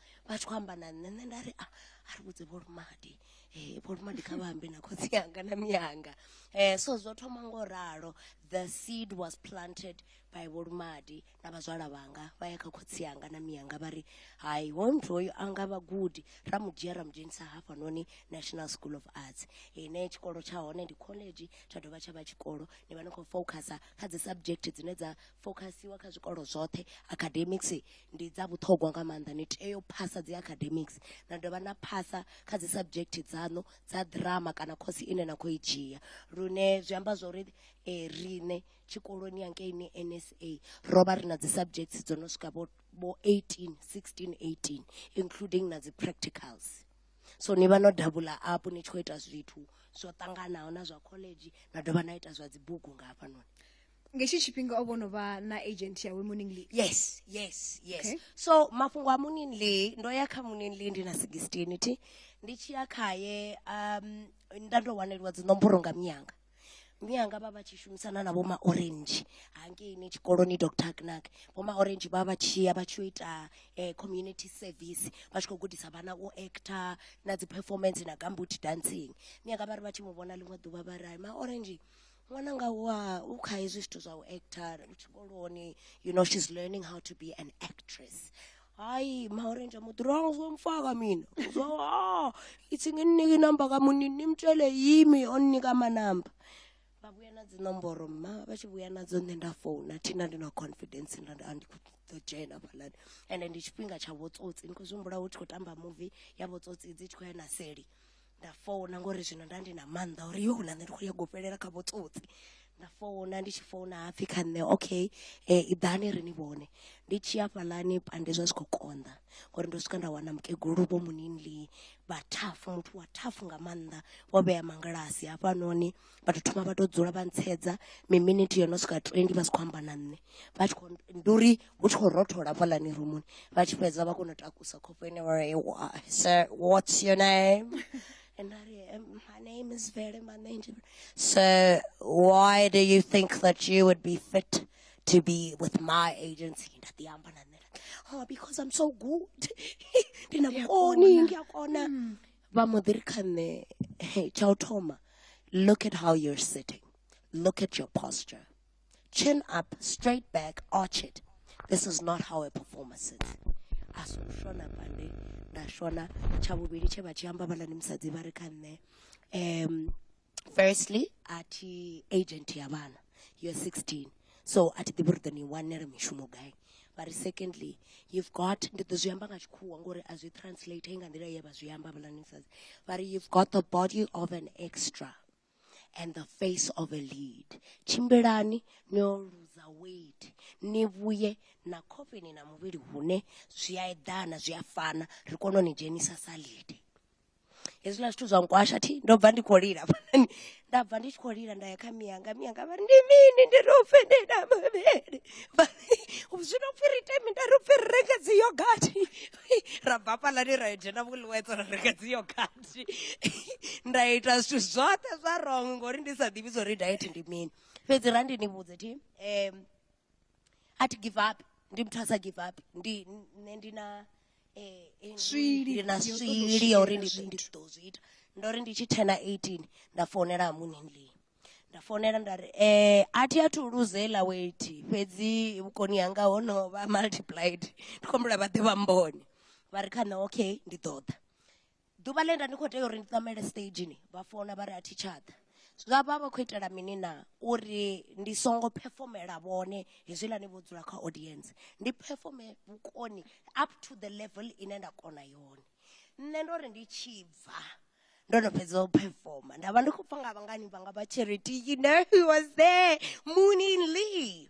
Speaker 2: vha tshi khou amba na nṋe nṋe nda ri a a ri vhudze vholumadi um vholumadi kha vha ambe na khotsi yanga na miyanga um so zwo thoma ngo ralo the seed was planted by vholumadi na vhazwala vhanga vha ya kha khotsi yanga na miyanga vha ri hai hoyu muthu hoyu a nga vhagudi ra mu dzhia ra mu dzhenisa hafhanoni national school of arts ine tshikolo tsha hone ndi college tsha dovha tsha vha tshikolo ni vha ni khou focusa kha dzi subject dzine dza focusiwa kha zwikolo zwoṱhe academics ndi dza vhuṱhogwa nga maanḓa ni tea u phasa dzi academics na dovha na phasa kha dzi subject dzaṋu dza drama kana khosi ine na khou i dzhia lune zwi amba zwa uri um riṋe tshikoloni yankeini n s a ro vha ri na dzi subjects dzo no swika vho vho eighteen sixteen eighteen including na dzi practicals so ni vha no davhula apo ni tshi khou ita zwithu zwo ṱanganaho na zwa college na dovha na ita zwa dzibugu nga hafhanoni nga hetshi tshifhinga
Speaker 1: o vho no vha na agent yawe morning lee yes yes
Speaker 2: yes okay.
Speaker 1: so mafhungo
Speaker 2: a morning lee ndo ya kha morning lee ndi na 16 thi ndi tshi ya khaye um nda ndo waneliwa dzinomboro nga miyanga miyanga vha vha tshi shumisana na vhoma orange hangeini tshikoloni dr knack vhoma orange vha vha tshi ya vha tshi ita eh, community service vha tshi khou gudisa vhana u actor na dzi performance na gambut dancing miyanga vha ri vha tshi mu vhona ḽiṅwe ḓuvha vha ri ma orange Ṅwananga wa u kha hezwi zwithu zwa u actor u tshikoloni you know she's learning how to be an actress hayi maorenje muduranga uzomfaka mina uzo ah ithi nginike inamba kamunini nimtshele yimi oninika amanamba babuya na dzinomboro mma vha tshi vhuya nadzo nṋe nda founa thina ndi na confidence nda ndi andi ḓo dzhena fhaḽani ende ndi tshifhinga tsha vhotsotsi ni khou zwi humbula hu tshi khou tamba muvi ya vhotsotsi dzi tshi khou ya na seli nda founa ngori zwino nda ndi na mannḓa uri yo na nṋe ndi khou nyaga u fhelela kha vho tsotsi nda founa ndi tshi founa hapfhi kha nṋe okay i ḓani ri ni vhone ndi tshi ya fhaḽani pande zwa zwi khou konḓa ngori ndo swika nda wana mukegulu vho munini vha thafhu muthu wa thafhu nga maanḓa vho vhea mangilasi hafhanoni vha to thoma vha to dzula vha ntshedza mi minute yo no swika 20 vha si kho amba na nṋe vha tshi kho ndi uri hu tshi kho rothola hafhaḽani rumuni vha tshi fhedza vha kona u takusa khofho ine vha ri sir what's your name and I ri um, my name is Vele my name is so why do you think that you would be fit to be with my agency nda ḓi amba na nṋe oh because I'm so good ndina vhukoni ngiyakona mm. vha mbo ḓi ri kha nṋe hey, tsha u thoma look at how you're sitting look at your posture chin up straight back arch it this is not how a performance is a si u shona pande nda shona tsha vhuvhili tshe vha tshi amba vhalani musadzi vha ri kha nṋe um firstly a thi agent ya vhana you're 16 so a thi ḓivhi uri ḓo ni wanela mishumo gai but secondly you've got ndi ḓo zwi amba nga tshikhuwa ngori a zwi translate nga nḓila ye vha zwi amba vhulanisas but you've got the body of an extra and the face of a lead tshimbilani ni yo luza weight ni vhuye na khofheni na muvhili hune zwi a eḓana zwi a fana ri kone u ni dzhenisa sa lead hezwiḽa zwithu zwa nkwasha thi ndo bva ndi khou lila hafhanani nda bva ndi tshi khou lila nda ya kha miyanga miyanga vha ri ndi mini ndi ri upfe ndi na mavhele zwi no pfi ri ite mi nda ri upfi ri renge dzi yogathi ra bva hafhaḽani ra yo dzhena vhuliwedzo ra renga dzi yogathi nda ita zwithu zwoṱhe zwa rong ngori ndi sa ḓivhi zwa uri diet ndi mini fhedzi ra ndi ni vhudze thi um a thi give up ndi muthu a sa give up ndi nṋe ndi na swili ndi na swili ya uri ndi ḓo- ndi ḓo zwi ita ndo ri ndi tshi thena 18 nda founela hamunindli nda founela nda ri um a thi athu luze heiḽa weti fhedzi vhukoni hanga ho no vha multiplied ndi khou humbula vha ḓe vha mbone vha ri kha nṋe okay ndi ḓo ḓa ḓuvha ḽe nda ndi khou tea uri ndi ṋamele stageni vha founa vha ri a thi tsha ḓa zwa vha vha khou itela mini na uri ndi songo phefomela vhone hezwiḽani vho dzula kha audience ndi phefome vhukoni up to the level ine nda kona yone nṋe ndo ri ndi tshi bva ndo no fhedza u phefoma nda vha ndi khou pfa nga vhangani vhanga vha charity you know who was there moonin lee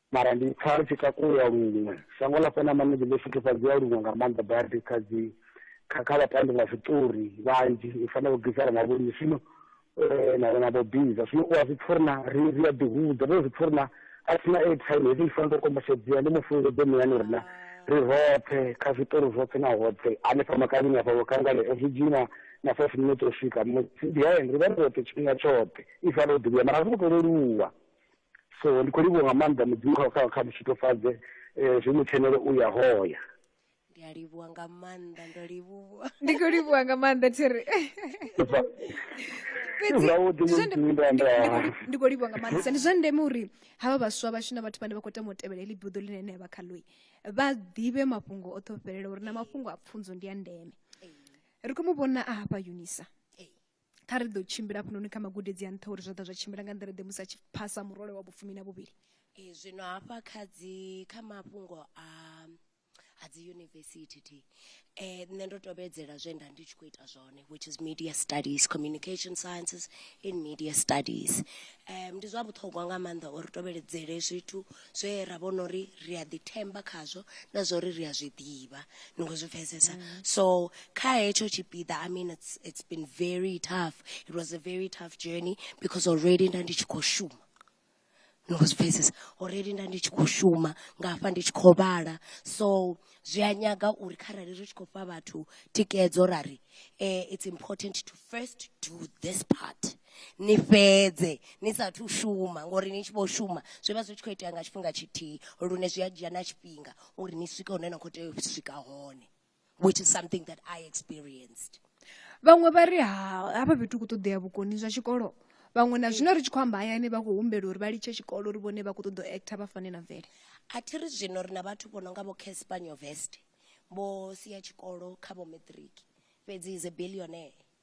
Speaker 7: mara ndi pfa ri tshi takuwa luṅwe shango ḽa fhana manezi ḽo futhufhadzea luṅwe nga maanḓa badi kha dzi kha kha vhatambi vha zwiṱori vhanzhi i fana vho gisara na vholi zwino eh, na na vho biza zwino u a zwi pfa uri na ri ri a ḓihudza ndo zwi pfa uri na a thina airtime hezwi i fana ndo kombetshedzea ndi mufungo ḓo muyani uri na ri roṱhe kha zwiṱori zwoṱhe na hoṱhe hanefha makavhini afha vhokangale zwi dzhii na na five minute u swika musi behind ri vha ri roṱhe tshifhinga tshoṱhe i fana u ḓivhuya mara a zwi ngo to leluwa So ndi khou livhuwa nga maanḓa mudzimu kha kha kha mushitofadze eh, zwi mu tshenele u ya hoya ndi a livhuwa
Speaker 2: nga maanḓa ndo livhuwa ndi khou livhuwa nga
Speaker 1: maanḓa thiri fhedzi Zwavhuḓi ndi zwa ndeme- mudzimu ndo ndi- ndi khou li- amba ndi khou livhuwa nga maanḓesa ndi zwa ndeme uri havha vhaswa vhashu na vhathu vhane vha khou tama u tevhela heḽi buḓo ḽine ṋea vhakhaloyi vha ḓivhe mafhungo oṱhe o fhelela uri na mafhungo a pfunzo ndi a ndeme ri khou mu vhona a hafha unisa kha ri ḓo tshimbila hafhanoni kha magudedzi a nṱha uri zwa ḓa zwa tshimbila nga nḓila ḓe musi a tshi phasa murole wa vhufumi na vhuvhili ee zwino hafha
Speaker 2: kha dzi kha mafhungo a a dzi yunivesithi thi eh nṋe ndo tovhedzela zwe nda ndi tshi khou ita zwone which is media studies communication sciences in media studies um ndi zwa vhuṱhogwa nga maanḓa uri tovheledzele zwithu zwe ra vhona uri ri a ḓithemba khazwo na zwa uri ri a zwi ḓivha ni khou zwi pfesesa mm. so kha hetsho tshipiḓa i mean it's, it's been very tough it was a very tough journey because already nda ndi tshi khou shuma ni khou zwi pfesesa already nda ndi tshi khou shuma nga hafha ndi tshi khou vhala so zwi a nyaga uri kharali ri tshi khou fha vhathu tikedzo ra ri um it's important to first do this part ni fhedze ni sathu shuma ngori ni tshi vho shuma zwi vha zwi tshi khou itea nga tshifhinga tshithihi lune zwi a dzhia na tshifhinga uri ni swike hune na khou tea u swika hone which is something that i experienced vhaṅwe vha
Speaker 1: ri ha hafha fhethu ku ṱoḓea vhukoni zwa tshikolo vhaṅwe na zwino ri tshi khou amba hayani vha khou humbela uri vha litshe tshikolo uri vhone vha khou ṱoḓa u actor vha fane na mvele a thi ri zwino
Speaker 2: ri na vhathu vho no nga vho caspanyo vest vho sia tshikolo kha vho matric fhedzi is a billionaire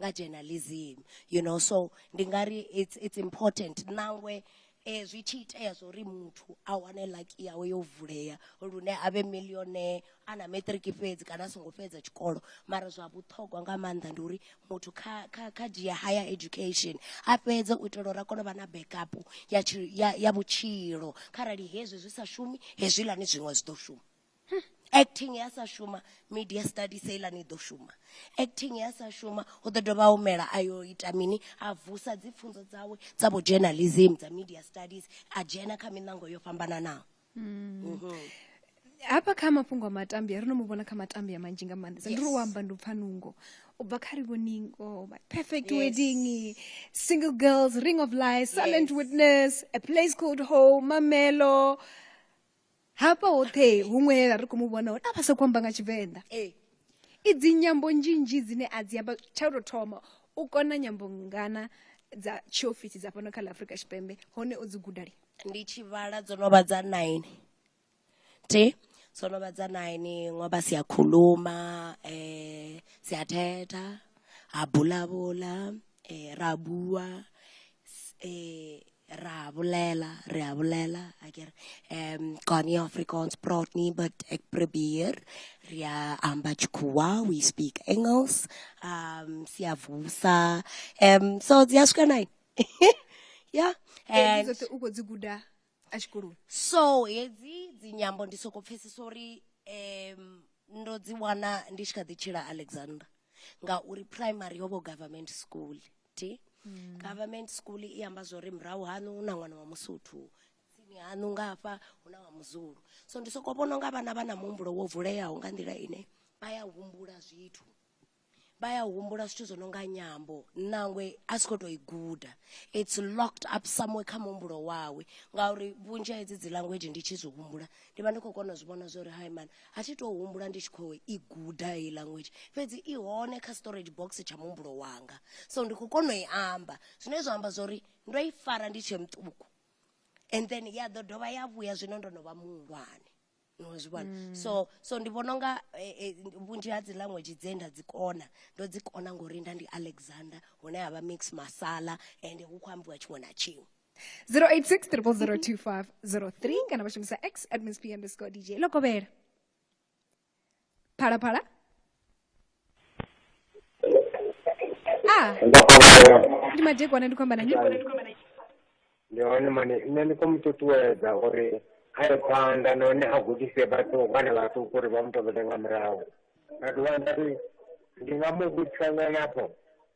Speaker 2: nga journalism you know so ndi nga ri it's, it's important nangwe eh, zwi tshi itea zwo ri muthu a wane laki yawe yo vulea lune a vhe millionaire a na matric fhedzi kana a songo fhedza tshikolo mara zwa vhuṱhogwa nga maanḓa ndi uri muthu kha, kha, kha dzhia higher education a fhedze u itela uri a kone u vha na backup ya, tshi- ya, ya vhutshilo kharali hezwi zwi sa shumi hezwilani zwiṅwe zwi ḓo shuma hmm, acting ya sa shuma media studies heilani i ḓo shuma acting ya sa shuma hu ḓo dovha humela a yo ita mini a vusa dzi pfunzo dzawe dza vho journalism dza media studies a dzhena kha miṋango yo fhambananaho mm. mm -hmm.
Speaker 1: hafha kha mafhungo a matambi a ri no mu vhona kha matambi a manzhi nga maanḓesa ndi ri u amba ndi u pfa nungo u bva kha rivoningo perfect yes. wedding single girls ring of lies silent yes. witness a place called home mamelo Hafha hoṱhe huṅwe he ra ri khou mu vhona hone a vha sa khou amba nga Tshivenḓa. I dzi nyambo nzhinzhi dzine a dzi amba tsha u tou thoma u kona nyambo ngana dza tshiofisi dza fhano kha ḽa Afrika Tshipembe hone o dzi guda lini? Ndi tshi vhala
Speaker 2: dzo no vha dza nine thi dzo no vha dza nine ngo vha Siyakhuluma, Siyathetha, Habulabula, Rabua, Ra bolela, re a bolela, a ke re um Gani Afrikaans praat nie, but ek probeer. Re a amba Tshikhuwa, we speak Engels. Um siyavusa. Um so dzi a swika nine. yeah. And dzoṱhe u khou dzi guda
Speaker 1: a tshikoloni so hedzi
Speaker 2: dzi nyambo ndi soko pfhesesa uri um ndo dzi wana ndi tshi kha ḓi tshila alexander ngauri primary yo vho government school T, Government school i amba zwori murahu haṋu hu na ṅwana wa Musotho, tsini haṋu nga hafha hu na wa Muzulu. So ndi soko vhona unga vhana vha na muhumbulo wo vuleaho nga nḓila ine vha ya humbula zwithu, vha ya humbula zwithu zwo no nga nyambo nangwe a si kho to i guda it's locked up somewhere kha muhumbulo wawe ngauri vhunzhi ha hedzi dzi language ndi tshi zwi humbula ndi vha ndi khou kona u zwi vhona zwa uri hai mani a thi tou humbula ndi tshi khou i guda heyi language fhedzi i hone kha storage box tsha muhumbulo wanga so ndi khou kona u i amba zwine zwa amba zwa uri ndo i fara ndi tshe muṱuku and then ya ḓo dovha ya vhuya zwino ndo no vha muhulwane no zwi vhona mm. so so ndi vhona unga eh, eh, vhunzhi ha dzi language dze nda dzi kona ndo dzi kona ngori nda ndi alexander hune ha vha mix masala and hu khou ambiwa tshiṅwe na tshiṅwe 086
Speaker 1: 02503 kana vha shumisa x at msp underscore dj ḽo kovhela phalaphala a ndi madekwana ndi khou amba na nyi
Speaker 8: ndi hone mane nṋe ndi khou mu ṱuṱuwedza uri a ye phanḓa nahone a gudise vhathu vhana vhaṱuku uri vha mu tovhele nga murahu nda dovha nda ri ndi nga mu vhudzisa nganafho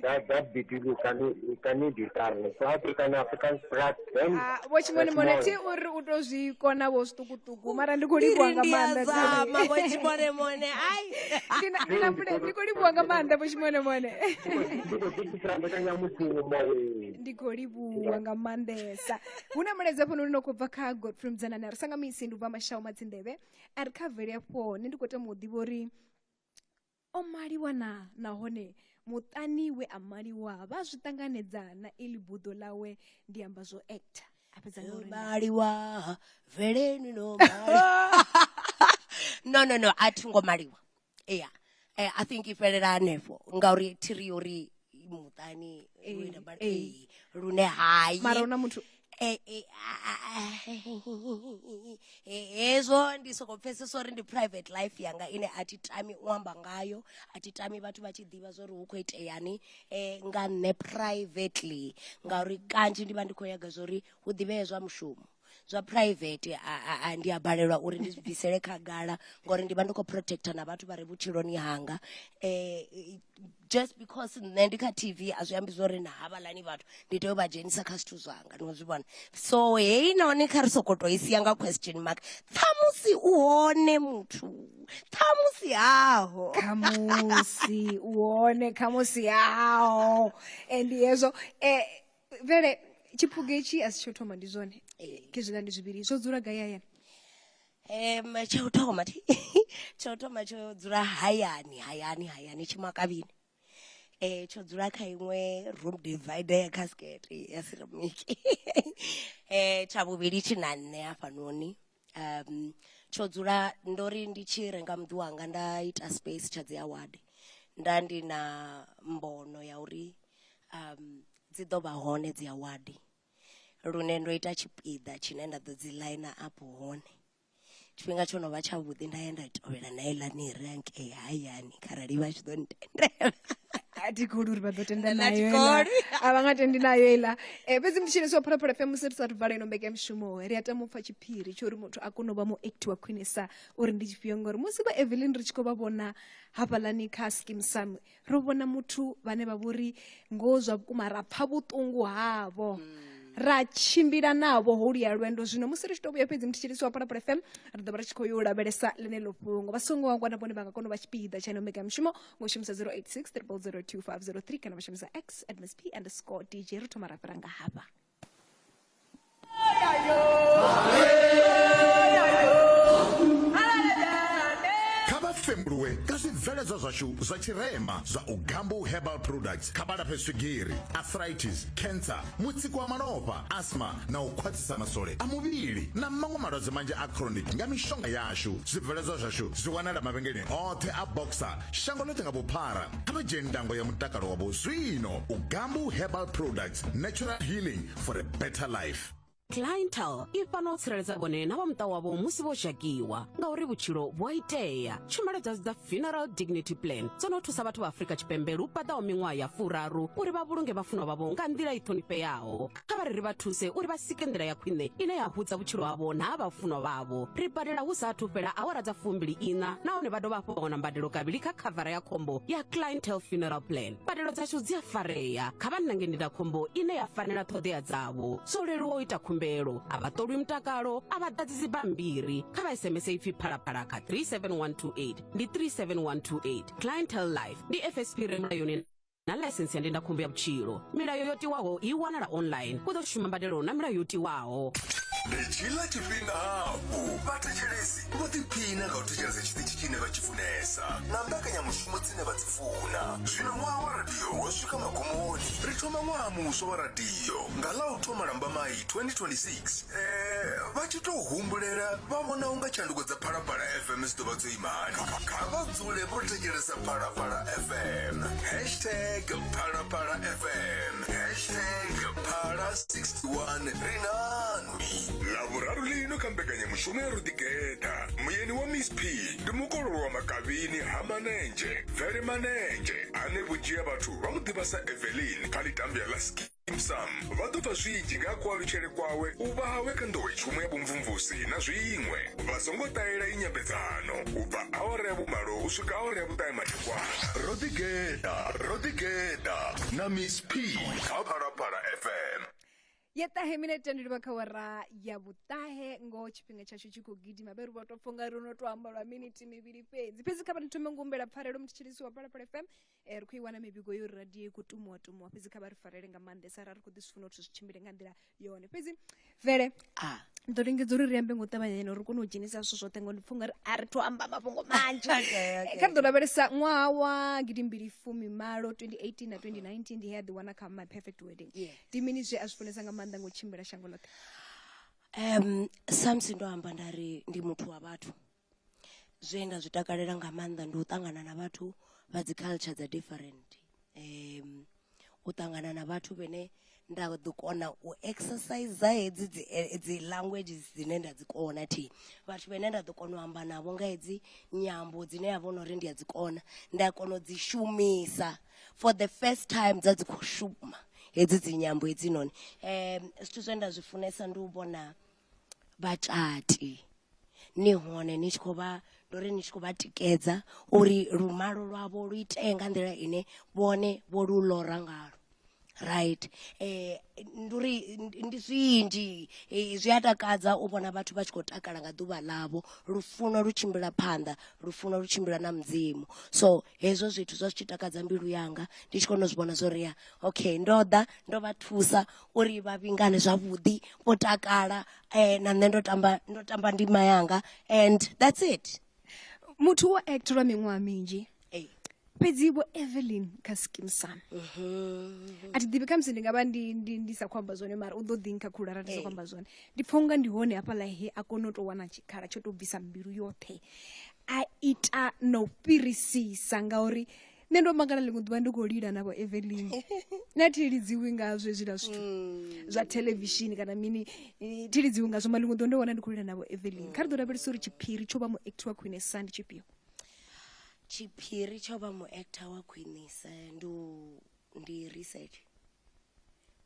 Speaker 8: that that between you can you can need it darling so african african sprat then Ah, vho tshimoni mone thi
Speaker 1: uri u to zwi kona vho zwiṱukuṱuku mara ndi khou livhuwa nga maanḓa zama vho tshimone mone
Speaker 2: ai Ndi na- ndi na pule- ndi
Speaker 1: khou livhuwa nga maanḓa vho tshimone mone ndi khou ḓikisela mbekanyamushumo ee. ndi khou livhuwa nga maanḓesa hu na mulaedza fhano uri no khou bva kha godfrey mudzanani a ri sanga misi ndi ubva mashau madzinḓevhe a ri kha vele afho nṋe ndi khou tama u ḓivha uri O maliwa na, nahone muṱani we a maliwa vha zwi ṱanganedza na iḽi buḓo ḽawe, ndi amba zwo actor. A fhedza nga uri nda. maliwa
Speaker 2: veleni no maliwa no no no a thi ngo maliwa yeah Eh, i think i fhelela hanefho ngauri thiri yo ri muṱani lune hayi mara una muthu
Speaker 1: Eh, eh, ah,
Speaker 2: ah, eh, hezwo ndi soko pfesesa uri ndi private life yanga ine a thi tami u amba ngayo a thi tami vhathu vha tshi ḓivha zwo ri hu khou iteyani um nga nṋe privately ngauri kanzhi ndi vha ndi khou nyaga zwa uri hu ḓivhee zwa mushumo zwa private a ndi a balelwa uri ndi bvisele khagala ngori ndi vha ndi khou protector na vhathu vha re vhutshiloni hanga um just because nṋe ndi kha tv a zwi ambi zwori na havhaḽani vhathu ndi tea u vha dzhenisa kha zwithu zwanga ni zwi vhona so heyi noni kha ri sokoto i sia nga question mark ṱhamusi u hone muthu ṱhamusi haho khamusi
Speaker 1: u hone khamusi haho and hezwo um vele tshiphuga itshi a si tsho thoma ndi zwone ke zwiḽa ndi zwivhili zwo dzula gai hayani um
Speaker 2: tsha u thoma thi tsha u thoma tsho dzula hayani hayani hayani tshimakavhini um tsho dzula kha iṅwe room divider ya casket ya ceramic um tsha vhuvhili tshi na nṋe hafhanoni um tsho dzula ndo ri ndi tshi renga muḓi wanga nda ita space tsha dzi award nda ndi na mbono ya uri um dzi ḓo vha hone dzi award lune ndo ita tshipiḓa tshine nda ḓo dzi line up hone tshifhinga tsho no vha tshavhuḓi nda ya nda tovhela na heiḽani ri hangei hayani kharali vha tshi ḓo ntendela a thi kholi
Speaker 1: uri vha ḓo tenda nayo a vha nga tendi nayo iḽa um eh, fhedzi ndi tshine so phulaphula fm musi ri sa thu vala ino mbekanyamushumo ri a tama u pfa tshiphiri tsho uri muthu a kone u vha muekti wa khwinesa uri ndi tshifhio ngori musi vha evelyn ri tshi khou vha vhona hafhaḽani kha skim sam ro vhona muthu vhane vha vhori ngoho zwa vhukuma ra pfa vhuṱungu havho ra tshimbila navho ho luya lwendo zwino musi ri tshi to vhuya fhedzi mutshitshilisi wa palapala fm ri ḓo vha ri tshi khou yo lavhelesa ḽeneḽo fhungo vha songo wangwa na vhone vha nga kona u vha tshipiḓa tsha ino mega mushumo ngo shumisa 086 3002503 kana vha shumisa x at msp underscore dj ri thoma ra fhira nga hafha
Speaker 9: zwibveledzwa zwashu zwa tshirema zwa u gambu herbal products kha balafhe swigiri arthritis cancer mutsiko wa malofha asma na u khwaṱhisa masole a muvhili na maṅwe malwadze manzhi a chronic nga mishonga yashu zwibveledzwa zwashu zwi wanala mavhengeleni oṱhe a boxer shango ḽoṱhe nga vhuphara kha vha dzheni ndango ya mutakalo wavho zwino u gambu herbal products natural healing for a better life clientel
Speaker 3: i fana u tsireledza vhone na vha muṱa wavho musi vho dzhakiwa ngauri vhutshilo vhu a itea tshumelo dza dza funeral dignity plan dzo no thusa vhathu vha afurika tshipembe lu paḓaho miṅwaha ya furaru uri vha vhulunge vhafunwa vhavho nga nḓila i ṱhonifheaho kha vha ri ri vha thuse uri vha sike nḓila ya khwine ine ya hudza vhutshilo havho na ha vhafunwa vhavho ri badela hu sa athu fhela awara dza fumbili ina nahone vha dovha hafhu vha wana mbadelo kavhili kha khavara ya khombo ya clientel funeral plan mbadelo dzashu dzi a farea kha vha nange ndindakhombo ine ya fanela ṱhoḓea dzavho zwo leluwa u ita khumbelo a vha ṱolwi mutakalo a vha ḓadzi dzibammbiri kha vha sms ipfi phalaphala kha 37128 ndi 37128 clientele life ndi fsp re mulayoni na laisentsi ya ndindakhombo ya vhutshilo milayo yo tiwaho i wanala online u ḓo shuma mbadelo na milayo yo tiwaho ndi tshila
Speaker 4: tshifhinga hafhu vhathetshelesi vho ḓiphina nga u thetshelesa tshiṱitshi tshine vha tshi funesa na mbekanyamushumo dzine vha dzi funa zwino ṅwaha wa radio wo swika magumoni ri thoma ṅwaha muswa wa radio nga ḽa u thoma lambamai 2026 eh, vha tshi tou humbulela vha vhona unga tshanduko dza phalaphala fm dzi ḓo vha dzo imani kha vha dzule vho thetshelesa phalaphala fm hashtag phalaphala fm hashtag phala 61 ri na ḽavhuraru ḽino kha mbekanyamushumo ya ruḓigeda muyeni wa miss p ndi mukololo wa makavhini ha manenzhe bvele manenzhe ane vhunzhi ha vhathu vha mu ḓivha sa evelin kha ḽitambya ḽa ski sam vha ḓo pfa zwinzhi nga kualutshele kwawe u vha hawe kha nḓowetshumo ya vhumvumvusi na zwiṅwe vha songo ṱahela i nyambedzano u bva awara ya vhumalo u swika awara ya vhuṱahe madekwana ro ḓigeda ro ḓigeda na miss p kha phalaphala fm ya ṱahe
Speaker 1: minete ndi livha kha wara ya vhuṱahe ngoho tshifhinga tshashu tshi khou gidima vhe ri vha tou pfha unga ri no tou amba lwa miniti mivhili fhedzi fhedzi kha vha ni thome ngumbela pfarelo mutshitshilisi wa phalaphala fm eh, ri khou i wana mivhigo yo ri radio i khou tumuwa tumuwa fhedzi kha vha ri farele nga maanḓesa ra ri khou ḓi zwi funa uri zwi tshimbile nga nḓila yone fhedzi vele a ndi ḓo lingedza uri ri ambe ngo ṱavhanya ene uri kone u dzhenisa zwithu zwoṱhe ngo ndi pfha unga ri a ri thu amba mafhungo manzhi Okay, okay, kha ri ḓo lavhelesa ṅwaha wa gidimbili fumimalo 2018 na 2019 ndi he a ḓiwana kha my perfect wedding Yes. ndi mini zwe a zwi funesa nga maanḓa nga u tshimbila shango ḽoṱhe um samusi
Speaker 2: ndo amba nda ri ndi muthu wa vhathu zwe nda zwi takalela nga maanḓa ndi u ṱangana na vhathu vha dzi culture dza different um u ṱangana na vhathu vhene nda ḓo kona u exercise hedzi dzi eh, dzi languages dzine nda dzi kona thi vhathu vhene nda ḓo kona u amba navho nga hedzi nyambo dzine ya vhona uri ndi a dzi kona nda kona u dzi shumisa for the first time dza dzi khou shuma hedzi dzi nyambo hedzi noni um zwithu zwe nda zwi funesa ndi u vhona vhatati ni hone ni tshi khou vha ndo ri ni tshi khou vha tikedza uri lumalo lwavho lu itee nga nḓila ine vhone vho lu lora ngalo right um ndi uri ndi zwinzhi zwi a takadza u vhona vhathu vha tshi khou takala nga ḓuvha ḽavho lufuno lu tshimbila phanḓa lufuno lu tshimbila na mudzimu so hezwo zwithu zwa zwi tshi takadza mbilu yanga ndi tshi kona u zwi vhona zwo ri ya okay ndo ḓa ndo vha thusa uri vha vhingane zwavhuḓi vho takala na nṋe ndo tamba ndo tamba ndima yanga and that's it. muthu wo
Speaker 1: act lwa miṅwaha minzhi fhedzi vho evelyn kha skim sam a thi ḓivhi khamusi ndi nga vha ndi, ndi, ndi sa khou amba zwone mara u ḓo ḓi nkha khulu arali ndi sa khou amba zwone ndi pfha unga ndi hone hafhaḽa he a kona u tou wana tshikhala tsho tou bvisa mbilu yoṱhe a ita na u fhirisisa ngauri nṋe ndo mangala ḽiṅwe ḓuvha ndi khou lila na vho evelyn na thi lidziwi ngazwo hezwiḽa zwithu mm. zwa thelevishini kana mini thi lidziwi ngazwo ma ḽiṅwe ḓuvha ndo wana ndi khou lila na vho evelyn kha ri ḓo lavhelesa uri tshiphiri tsho vha mu act wa khwinesa ndi tshifhio
Speaker 2: tshiphiri tsho vha mu actor wa khwinesa ndi ndi research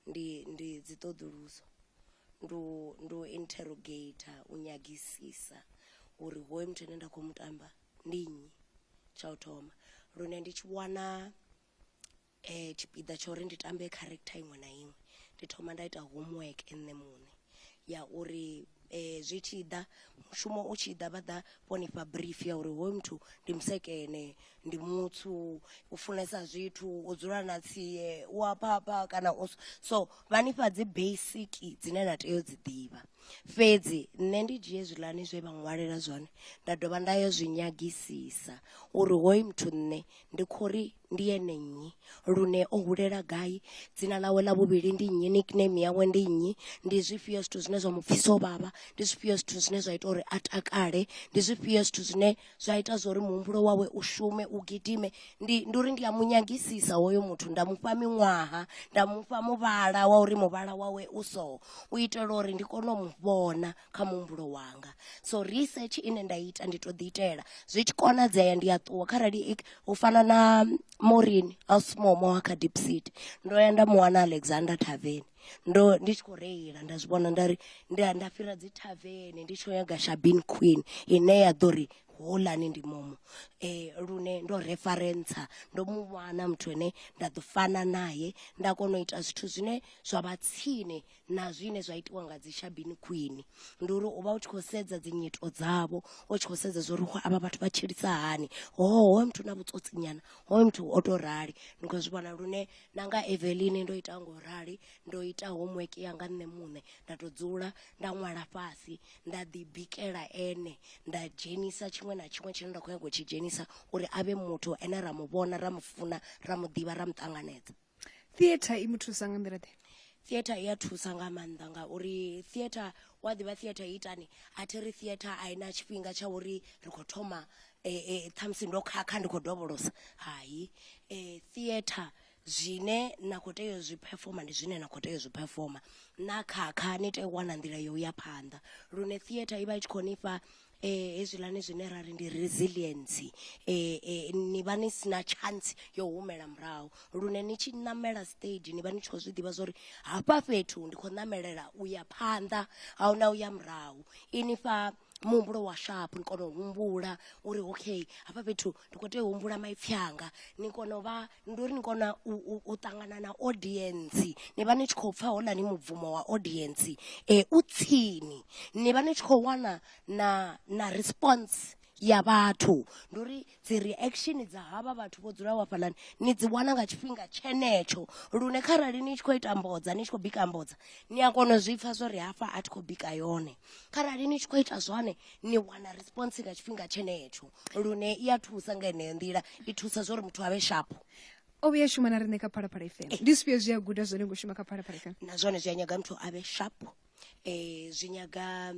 Speaker 2: ndi ndi dzi ṱoḓuluso ndu ndu interrogator u nyagisisa uri hoyo muthu ane nda khou mu tamba ndi nnyi tsha u thoma lune ndi tshi wana tshipiḓa tsha uri ndi tambe character iṅwe na iṅwe ndi thoma nda ita homework nṋe muṋe ya uri zwi tshi ḓa mushumo u tshi ḓa vha ḓa vho nifha brief ya uri hoyu muthu ndi musekene ndi mutsu u funesa zwithu u dzula na tsie u a phapha kana u so vha nifha dzi basic dzine na tea u dzi ḓivha Fhedzi nṋe ndi dzhie zwiḽani zwe vha ṅwalela zwone nda dovha nda yo zwi nyagisisa uri hoyu muthu nṋe ndi khori ndi ene nnyi lune o hulela gai dzina ḽawe ḽa vhuvhili ndi nnyi nickname yawe ndi nnyi ndi zwifhio zwithu zwine zwa mu pfhisa u vhavha ndi zwifhio zwithu zwine zwa ita uri a takale ndi zwifhio zwithu zwine zwa ita zwori muhumbulo wawe u shume u gidime ndi ndi uri ndi a munyagisisa hoyo muthu nda mufha miṅwaha nda mufha muvhala wa uri muvhala wawe u so u itela uri ndi kone u mu vhona kha muhumbulo wanga so research ine nda ita ndi to ḓi itela zwi tshi konadzea ndi a ṱuwa kharali u fana na morini a small mo kha deep seed ndo ya nda mu wana alexander taveni ndo ndi tshi khou reila nda zwi vhona nda ri nda nda fhira dzi thavene ndi tshi khou nyaga shabin queen ine ya ḓo ri holani ndi momo eh lune ndo referensa ndo mu wana muthu ane nda ḓo fana naye nda kona u ita zwithu zwine zwa vha tsini na zwine zwa itiwa nga dzi shabini khwini ndi uri u vha u tshi khou sedza dzi nyito dzavho u tshi khou sedza zwa uri avha vhathu vha tshilisa hani hoho hoyo muthu na vhutswotsinyana hoyo muthu o to rali ni khou zwi vhona lune na nga Evelyn ndo ita ngo rali ndo ita homework ya nga nṋe muṋe nda to dzula nda ṅwala fhasi nda ḓi bikela ene nda dzhenisa tshiṅwe na tshiṅwe tshine nda kho nyaga u tshi dzhenisa uri avhe muthu ane ra mu vhona ra mu funa ra mu ḓivha ra mu ṱanganedza theatre i
Speaker 1: mu thusa nga nḓila ḓe theatre i ya
Speaker 2: thusa nga maanḓa ngauri theatre wa ḓivha theatre i itani a thi ri theatre a i na tshifhinga tsha uri ri khou thoma eh, ṱhamusi ndo khakha ndi khou dovholosa hai eh, theatre zwine na khou tea zwi performa ndi zwine na khou tea zwi performa na khakha ni tea u wana nḓila yo ya phanḓa lune theatre i vha i tshi khou nifha eh hezwilani zwine ra ri ndi resilience eh, eh ni vha ni sina chance yo humela murahu lune ni tshi namela stage ni vha ni tshi khou zwi ḓivha zwori hafha fhethu ndi khou namelela u ya phanḓa ahuna u ya murahu inifha muhumbulo wa sharp ni kona u humbula uri okay hafha fhethu ndi kho tea u humbula maipfi anga ni kona u vha ndi uri ni kona u u u ṱangana na audience ni vha ni tshi khou pfha houḽani mubvumo wa audience u tsini ni vha ni tshi khou wana na na response ya vhathu ndi uri dzi reaction dza havha vhathu vho dzulaho hafhaḽani ni dzi wana nga tshifhinga tshenetsho lune kharali ni tshi khou ita mbodza ni tshi khou bika mbodza ni a kona u zwi pfha zwori hafha a thi khou bika yone kharali ni tshi khou ita zwone ni wana response nga tshifhinga tshenetsho lune i a thusa nga heneyo nḓila i thusa zwori muthu avhe shapo o vhuya shuma
Speaker 1: na riṋe kha phalaphala fm eh. ndi zwifhio zwi a guda zwone ngo shuma kha phalaphala fm na zwone zwi a nyaga muthu
Speaker 2: avhe shapo Ee, zwi nyaga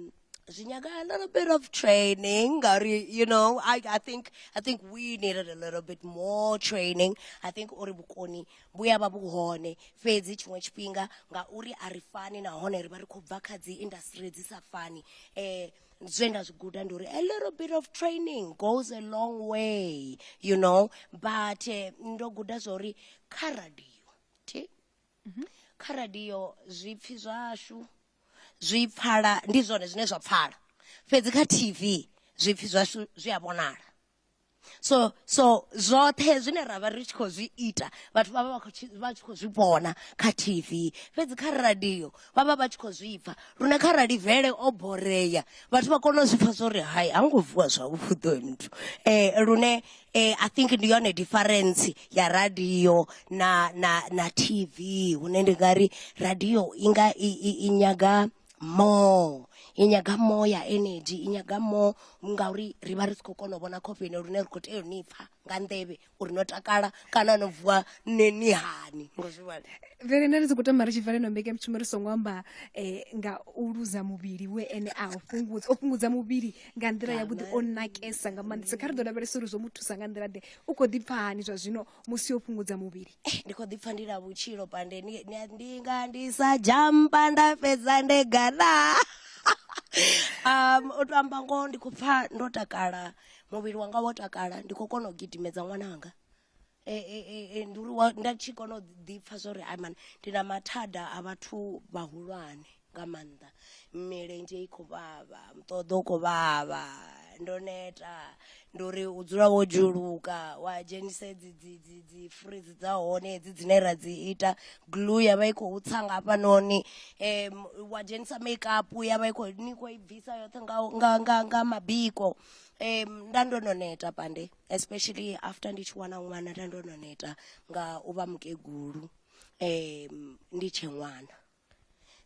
Speaker 2: zwi nyaga a little bit of training ngauri you know I, I think I think we needed a little bit more training I think uri vhukoni vhu ya vha vhu hone fhedzi tshiṅwe tshifhinga ngauri a ri fani nahone ri vha ri khou bva kha dzi industry dzi sa fani eh zwe nda zwi guda ndi uri a little bit of training goes a long way you know but eh, ndo guda zwa uri kha radio thi mhm. kha radio zwipfi zwashu zwi pfala ndi zwone zwine zwa pfala fhedzi kha tv zwipfi zwashu zwi a vhonala so so zwoṱhe zwine ra vha ri tshi khou zwi ita vhathu vha vha vha tshi khou zwi vhona kha tv fhedzi kha radio vha vha vha tshi khou zwi pfha lune kharali vele o borea vhathu vha kona u zwi pfha zwa uri hai ha ngo vuwa zwavhuḓi oyo muthu um lune um i think ndi yone difference ya radio na na na tv hune ndi nga ri radio i nga i i i nyaga more i nyaga more ya energy i nyaga more ngauri ri vha ri si khou kona u vhona khofheni lune ri khou tea u ni pfha nga nḓevhe uri no takala kana no vuwa ni ni hani ngo zwi vhona vele nda ri tshi khou tamba
Speaker 1: ri tshi bva leno mbeke mushumo ri songo amba eh, nga u luza muvhili we ene a u fhungudza o fhungudza muvhili nga nḓila yavhuḓi o nakesa nga maanḓesa kha ri ḓo lavhelesa uri zwo mu thusa nga nḓila ḓe u khou ḓipfa hani zwa zwino musi o fhungudza muvhili Eh, ndi khou ḓipfa ndi na
Speaker 2: vhutshilo pande ni- ni- ndi nga ndi sa jampa nda fhedza nde gana um u to amba ngoho ndi khou pfa ndo takala muvhili wanga wo takala ndi khou kona u gidimedza ṅwananga ndi uri nda tshi kona u ḓi pfha zwa uri ai mani ndi na mathada a vhathu vhahulwane nga maanḓa milenzhe i khou vhavha muṱoḓo u khou vhavha ndo neta ndi uri u dzula wo dzhuluka wa dzhenisa dzi dzi dzi dzi fridzi dza hone hedzi dzine ra dzi ita glue ya vha i khou tsa nga hafhanoni um wa dzhenisa make up ya vha i khou ni khou i bvisa yoṱhe nga nga nga nga mabiko um nda ndo no neta pande especially after ndi tshi wana ṅwana nda ndo no neta nga u vha mukegulu um ndi tshe ṅwana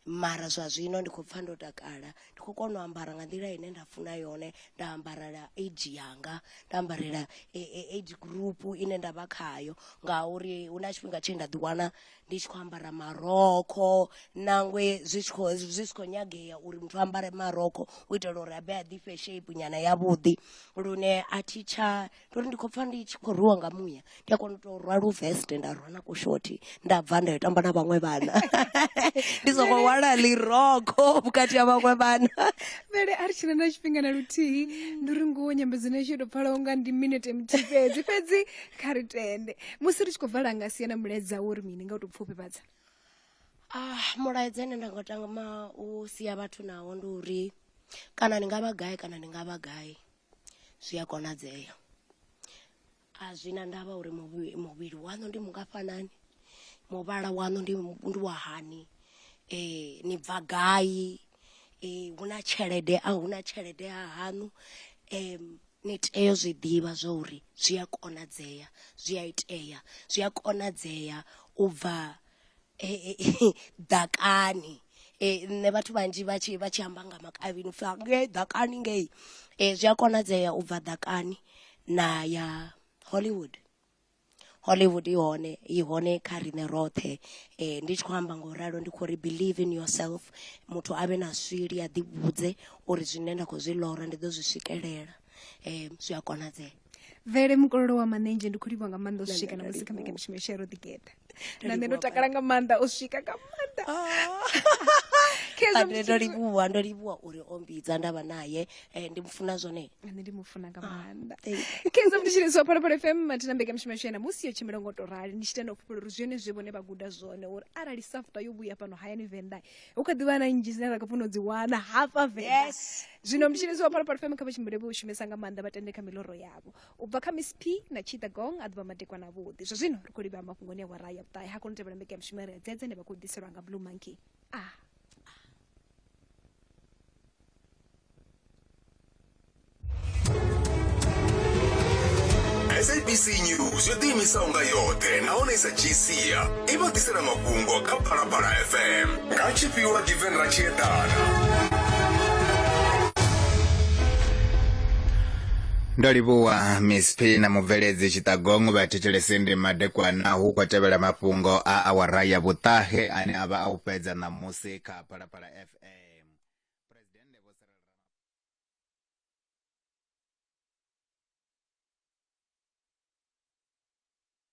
Speaker 2: mara zwa zwino ndi khou pfha ndo takala ndi khou kona u ambara nga nḓila ine nda funa yone nda ambarela age yanga nda ambarela e, e, age group ine nda vha khayo ngauri hu na tshifhinga tshe nda ḓiwana ndi tshi khou ambara marokho nangwe zwi tshi khou zwi si khou nyagea uri muthu ambare marokho u itela uri a be a ḓifhe shape nyana yavhuḓi lune a thi tsha ndo ri ndi khou pfa ndi tshi khou rwiwa nga muya ndi a kona u tou rwa luveste nda rwa na kushoti nda bva nda yo tamba na vhaṅwe vhana ndi songo wala liroko vhukati ha vhaṅwe vhana vele a ri tshina
Speaker 1: na tshifhinga na luthihi ndi uri ngoho nyambedzano yashu yo tou pfalaho nga ndi minete muthihi fhedzi fhedzi kha ri tende musi ri tshi khou vala nga sia na mulaedza wo ri mini nga u tou pfufhifhadza ah
Speaker 2: mulaedza ine nda nga tama u sia vhathu nawo ndi uri kana ni nga vha gai kana ni nga vha gai zwi a konadzea a zwi na ndavha uri muvhili muvhili waṋu ndi mungafhanani muvhala waṋu ndi ndi wa hani ni bva gai hu na tshelede a hu na tshelede ha haṋu ni tea u zwi ḓivha zwa uri zwi a konadzea zwi a itea zwi a konadzea u bva ḓakani nṋe vhathu vhanzhi vha tshi vha tshi amba nga makavhini upfhi ngei ḓakani ngei zwi a konadzea u bva ḓakani na ya hollywood hollywood i hone i hone kha riṋe roṱhe ndi tshi khou amba nga u ralo ndi khou ri believe in yourself muthu avhe na sweli a ḓi vhudze uri zwine nda kho zwi ḽora ndi ḓo zwi swikelela zwi a konadzea. vele mukololo
Speaker 1: wa manenzhe ndi khou livha nga maanḓa u swika na musi kha mbekamishumo yashu ya ro ḓigeḓa na nṋe ndo takala nga maanḓa u swika nga maanḓa Khezwo
Speaker 2: ndo livhuwa ndo livhuwa uri o mbidza ndavha naye eh, ndi mufuna zwone nṋe ndi mufuna nga
Speaker 1: maanḓa kenza mutshilisi wa phalaphala fm mathina mbekamishumo yashu ya namusi yo tshimbila ngo to rali ndi tshi tenda u fhufhela uri zwone zwe vhone vha guda zwone uri arali safta yo vhuya fhano hayani venḓa hu kha ḓivha na nnzhi dzine ra kho funa u dzi wana hafha venḓa Yes. zwino mutshilidzi wa phalaphala fm kha vha tshimbile vho shumesa nga maanḓa vha tende kha miloro yavho u bva kha miss p na chida gong a ḓuvha madekwa na vhuḓi zwa zwino ri khou livha mafhungoni a wara ya vhuṱahe ha kono tevhela mbeke ya mushumo ya ri a dzedze ne vha khou ḓiselwa nga blue monkey a ah.
Speaker 4: sabc news yo ḓiimisaho nga yoṱhe nahone i sa dzhii sia i vha ḓisela mafhungo kha phalaphala fm Kha tshifhiwa Given ra tshi
Speaker 10: eḓana. ndo livhuwa miss p na mubveledzi tshiṱagongo vha thetshelese ndi madekwana hu khou tevhela mafhungo a awara ya vhuṱahe ane a vha a u fhedza ṋamusi kha phalaphala fm